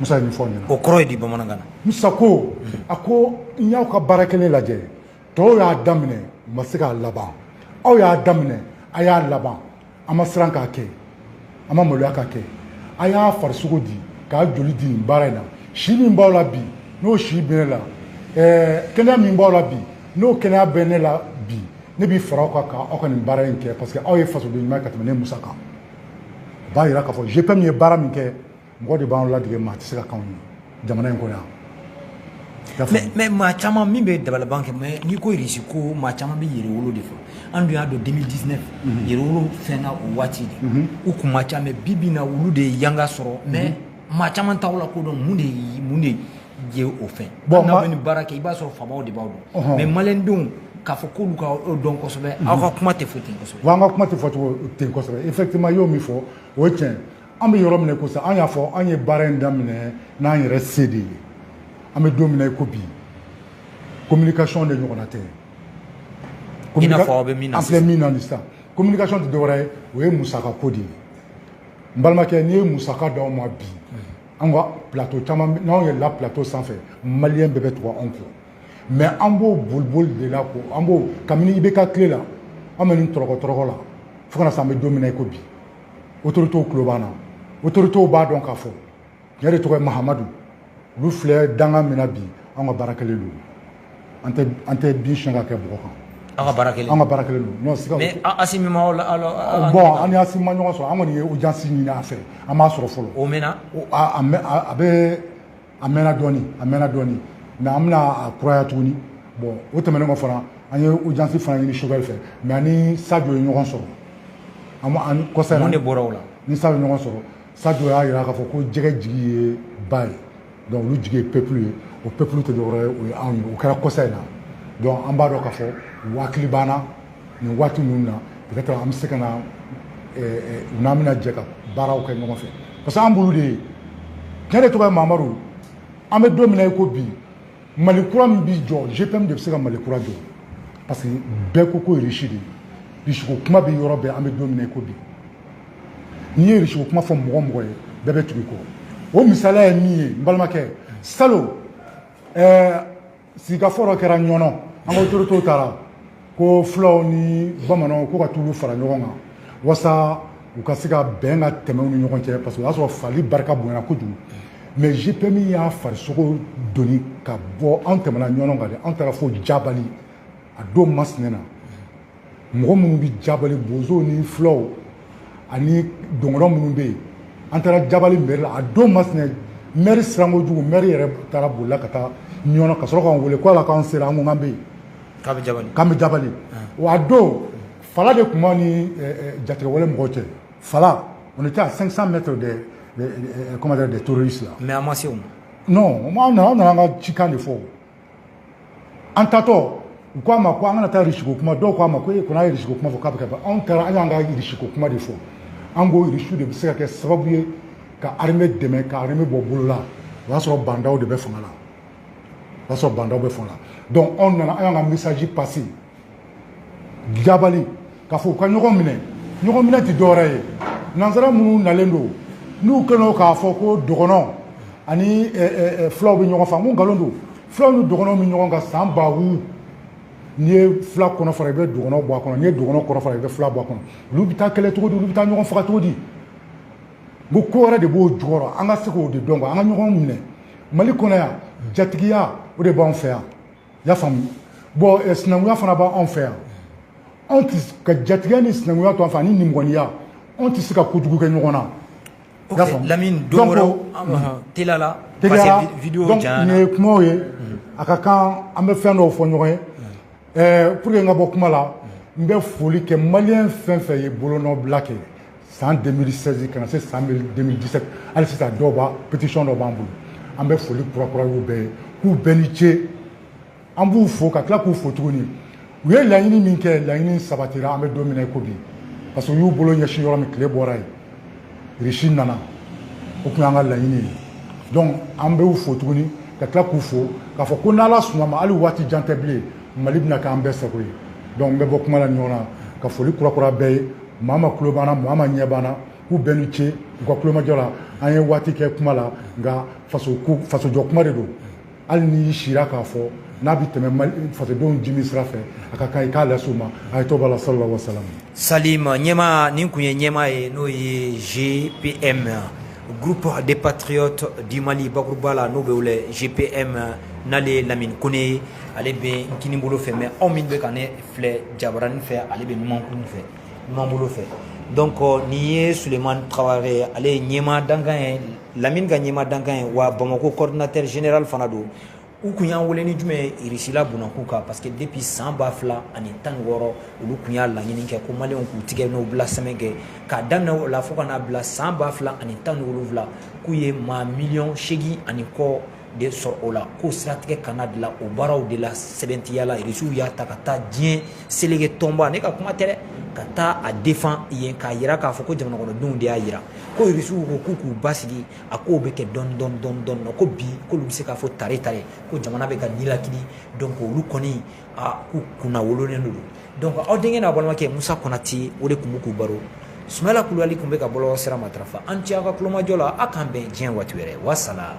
musa min fɔ ɲɛna o kɔrɔ ye di bamanankan na musa ko a ko n y'aw ka baara kɛlen lajɛ tɔw y'a daminɛ u ma se k'a laban aw y'a daminɛ a y'a laban a ma siran k'a kɛ a ma maloya k'a kɛ a y'a farisogo di k'a joli di nin baara in na si min b'aw la bi n'o si bɛ ne la kɛnɛya min b'aw la bi n'o kɛnɛya bɛ ne la bi ne b'i fara aw kan ka aw ka nin baara in kɛ parce que aw ye fasoden ɲuman ye ka tɛmɛ ne musa kan u b'a yira k'a fɔ gpm ye baara min kɛ mɔgɔ de b'an ladege maa tɛ se ka kɔn anw ɲɛ jamana in kɔnɔ yan mais, mais maa caman min bɛ dabalaban kɛ mais n'i ko irisi ko maa caman bɛ yɛrɛwolo de fɔ an dun y'a dɔn 2019 yɛrɛwolo fɛnna o waati de u kun man ca mais bi bi na olu de ye yanga sɔrɔ mais maa caman t'aw lakodɔn mun de ye mun de ye o fɛ bon n'aw bɛ ni baara kɛ i b'a sɔrɔ faamaw de b'aw dɔn mais malidenw k'a fɔ k'olu k'aw dɔn kosɛbɛ aw ka kuma tɛ fɔ ten kosɛbɛ wa an ka kuma tɛ fɔ cogo ten kosɛbɛ effectivement i y'o min fɔ o ye tiɲɛ an bɛ yɔrɔ min ko sisan an y'a fɔ an ye baara in daminɛ n'an yɛrɛ se de ye an bɛ don min na i ko bi communication de ɲɔgɔnna tɛ i n'a fɔ aw bɛ min na sisan an filɛ min na nin sisan communication tɛ dɔwɛrɛ ye o ye musaka ko de ye n balimakɛ n'i ye musaka d'anw ma bi an ka plateau caman n'anw yɛlɛla plateau sanfɛ maliyɛn bɛɛ bɛ tugu anw kɔ mais an b'o boliboli de la ko an b'o kabini ibk tile la an bɛ nin tɔrɔkɔ tɔrɔkɔ la fo ka na se an bɛ don min na i ko bi autorités tulo b'an na autorités b'a dɔn k'a fɔ ne de tɔgɔ ye mahamadu olu filɛ danga min na bi an ka baara kɛlen don an tɛ an tɛ bin siɲɛ ka kɛ bɔgɔ kan an ka baara kɛlen an ka baara kɛlen don non siga mais asimi ma la bon an ni asimi ma ɲɔgɔn sɔrɔ an kɔni ye audience ɲini a fɛ an m'a sɔrɔ fɔlɔ o mɛnna a a bɛ a mɛnna dɔɔni a mɛnna dɔɔni mais an bɛna a kuraya tuguni bon o tɛmɛnen kɔ fana an ye audience fana ɲini choguel fɛ mais an ni sajo ye ɲɔgɔn sɔrɔ an kɔsa mun de bɔra o la ni sajo ɲɔgɔn sɔrɔ Sajo y'a jira k'a fɔ ko jɛgɛ jigi ye ba ye donc olu jigi ye peuple ye o peuple tɛ dɔwɛrɛ ye o ye anw ye o kɛra kɔsa in na donc an b'a dɔn k'a fɔ u hakili b'an na nin waati ninnu na peut-être an bɛ se ka na eh, eh, u n'an bɛna jɛ ka baaraw kɛ ɲɔgɔn fɛ parce que an b'olu de ye ni ne de tɔgɔ ye mamadu an bɛ don min na i ko bi mali kura min bɛ jɔ gpm de bɛ se ka mali kura jɔ parce que bɛɛ ko ko risi de ye risiko kuma bɛ yɔrɔ bɛɛ an bɛ don min na i ko bi n'i ye risiko kuma fɔ mɔgɔ o mɔgɔ ye bɛɛ bɛ tugu i kɔ o misaliya ye min ye n balimakɛ salon ɛɛ sigikafɔ dɔ kɛra ɲɔnɔ an ka autoritew taara ko fulaw ni bamananw ko ka t'olu fara ɲɔgɔn kan wasa u ka se ka bɛn ka tɛmɛ u ni ɲɔgɔn cɛ parce que o y'a sɔrɔ fali barika bonyana kojugu mais GPM y'a farisogo doni ka bɔ an tɛmɛna ɲɔgɔn kan de an taara fo jabali a don masinɛ na mɔgɔ minnu bɛ jabali bozow ni fulaw ani dɔgɔnɔ minnu bɛ yen an taara jabali mɛri la a don masinɛ mɛri sirankojugu mɛri yɛrɛ taara bolila ka taa ɲɔnɔ ka sɔrɔ k'an wele ko yala k'an sera an ko k'an bɛ yen K'an bɛ jabali, k'an bɛ jabali, wa a don fala de tun b'an ni jatigɛwale mɔgɔw cɛ, fala on était à 500 mètres des comment dire des terroristes là mais a ma s'o ma, non o tuma an nana an ka cikan de fɔ, an taatɔ u k'an ma k'an kana taa Russie ko kuma dɔw k'an ma ko e kɔni a ye Russie ko kuma fɔ k'a bɛ ka ban anw taara an y'an ka Russie ko kuma de fɔ an ko Russie de bɛ se ka kɛ sababu ye ka armée dɛmɛ ka armée bɔ bolo la o y'a sɔrɔ Ba Ndaw de bɛ fanga la o y'a sɔrɔ Ba Ndaw bɛ fanga la donc anw nana an y'an ka message passé jabali k'a fɔ u ka ɲɔgɔn minɛ ɲɔgɔn minɛ tɛ dɔwɛrɛ ye nansara minnu nalen don n'u kɛlen k'a fɔ ko dɔgɔnɔ ani fulaw bɛ ɲɔgɔn faga nkalon don fulaw ni dɔgɔnɔw bɛ ɲɔgɔn kan san ba wu n'i ye fila kɔnɔ fara i bɛ dɔgɔnɔ bɔ a kɔnɔ n'i ye dɔgɔnɔ kɔnɔ fara i bɛ fila bɔ a kɔnɔ olu bɛ taa kɛlɛ cogo di olu bɛ taa ɲɔgɔn faga cogo di ko ko wɛrɛ de b'o jukɔrɔ an ka se k'o de dɔn an ka ɲɔgɔn minɛ mali kɔnɔ yan jatigiya o de b'an fɛ yan y'a faamu bɔn eh, sinankunya fana b'an fɛ yan anw tɛ ka jatigiya ni sinankunya to an fɛ ani nimɔgɔniya anw tɛ se ka kojugu kɛ ɲɔgɔn na y'a faamu lamini don wɛrɛ teliya la parce que vidéo janyana nin ye kumaw ye a ka kan an bɛ fɛn dɔw fɔ ɲɔgɔn ye eh, pour que n ka bɔ kuma la n bɛ foli kɛ maliyɛn fɛn fɛn ye bolonɔbila kɛ san 2016 ka na se san 2017 hali sisan dɔw b'a pétition dɔ b'an bolo an bɛ foli kurakuraya u bɛɛ ye k'u bɛɛ ni ce an b'u fo ka tila k'u fo tuguni u ye laɲini min kɛ laɲini sabatira an bɛ don min na i ko bi parce que u y'u bolo ɲɛsin yɔrɔ min tile bɔra yen Russie nana o tun y'an ka laɲini ye donc an bɛ u fo tuguni ka tila k'u fo k'a fɔ ko n'ala sɔnna a ma hali waati jan tɛ bilen mali bɛna kɛ an bɛɛ sago ye donc n bɛ bɔ kuma la ɲɔgɔn na ka foli kurakuraya bɛɛ ye maa min tulo b'an na maa min ɲɛ b'an na k'u bɛɛ ni ce u ka kulomajɔ la an ye waati kɛ kuma la nka fasojɔ kuma de don hali n'i sira k'a fɔ n'a bɛ tɛmɛ fasodenw jimi sira fɛ a ka kan i k'a lase u ma a ye tɔgɔ la sala wasalam salima ɲɛma nin tun ye ɲɛmaa ye n'o ye GPM groupe des patriotes du Mali bakuruba la n'o bɛ wele GPM n'ale ye Lamini Kone ye ale bɛ n kinibolo fɛ mais aw min bɛ ka ne filɛ jabarani fɛ ale bɛ numankuru fɛ numanbolo fɛ donc nin ye sulemani tarawele ye ale ye ɲɛmaa dankan ye lamini ka ɲɛmaa dankan ye wa bamako coordinateur général fana don u kun y'an wele ni jumɛn ye irisila bunakun kan parce que depuis san ba fila ani tan ni wɔɔrɔ olu kun y'a laɲini kɛ ko maliyɛnw k'u tigɛnɔ bila sɛbɛn kɛ k'a daminɛ o la fo ka n'a bila san ba fila ani tan ni wolonwula k'u ye maa miliyɔn seegin ani kɔ de sɔrɔ o la ko siratigɛ kana dilan o baaraw de la sɛbɛntiya la irisiw y'a ta ka taa diɲɛ seleke tɔnba ne ka kuma tɛ dɛ ka taa a defan yen k'a yira k'a fɔ ko jamanakɔnɔdenw de y'a yira ko irisiw ko k'u k'u basigi a k'o bɛ kɛ dɔɔni dɔɔni dɔɔni dɔɔni na ko bi k'olu bɛ se k'a fɔ tare tare ko jamana bɛ ka nilakili donc olu kɔni a k'u kunnawololen don donc aw denkɛ n'aw balimakɛ musa konate o de tun bɛ k'aw baro sumala kulubali tun bɛ ka bɔlɔlɔ sira matarafa aw ni ce aw ka kulomajɔ la aw k'an bɛn diɲɛ waati wɛrɛ wasala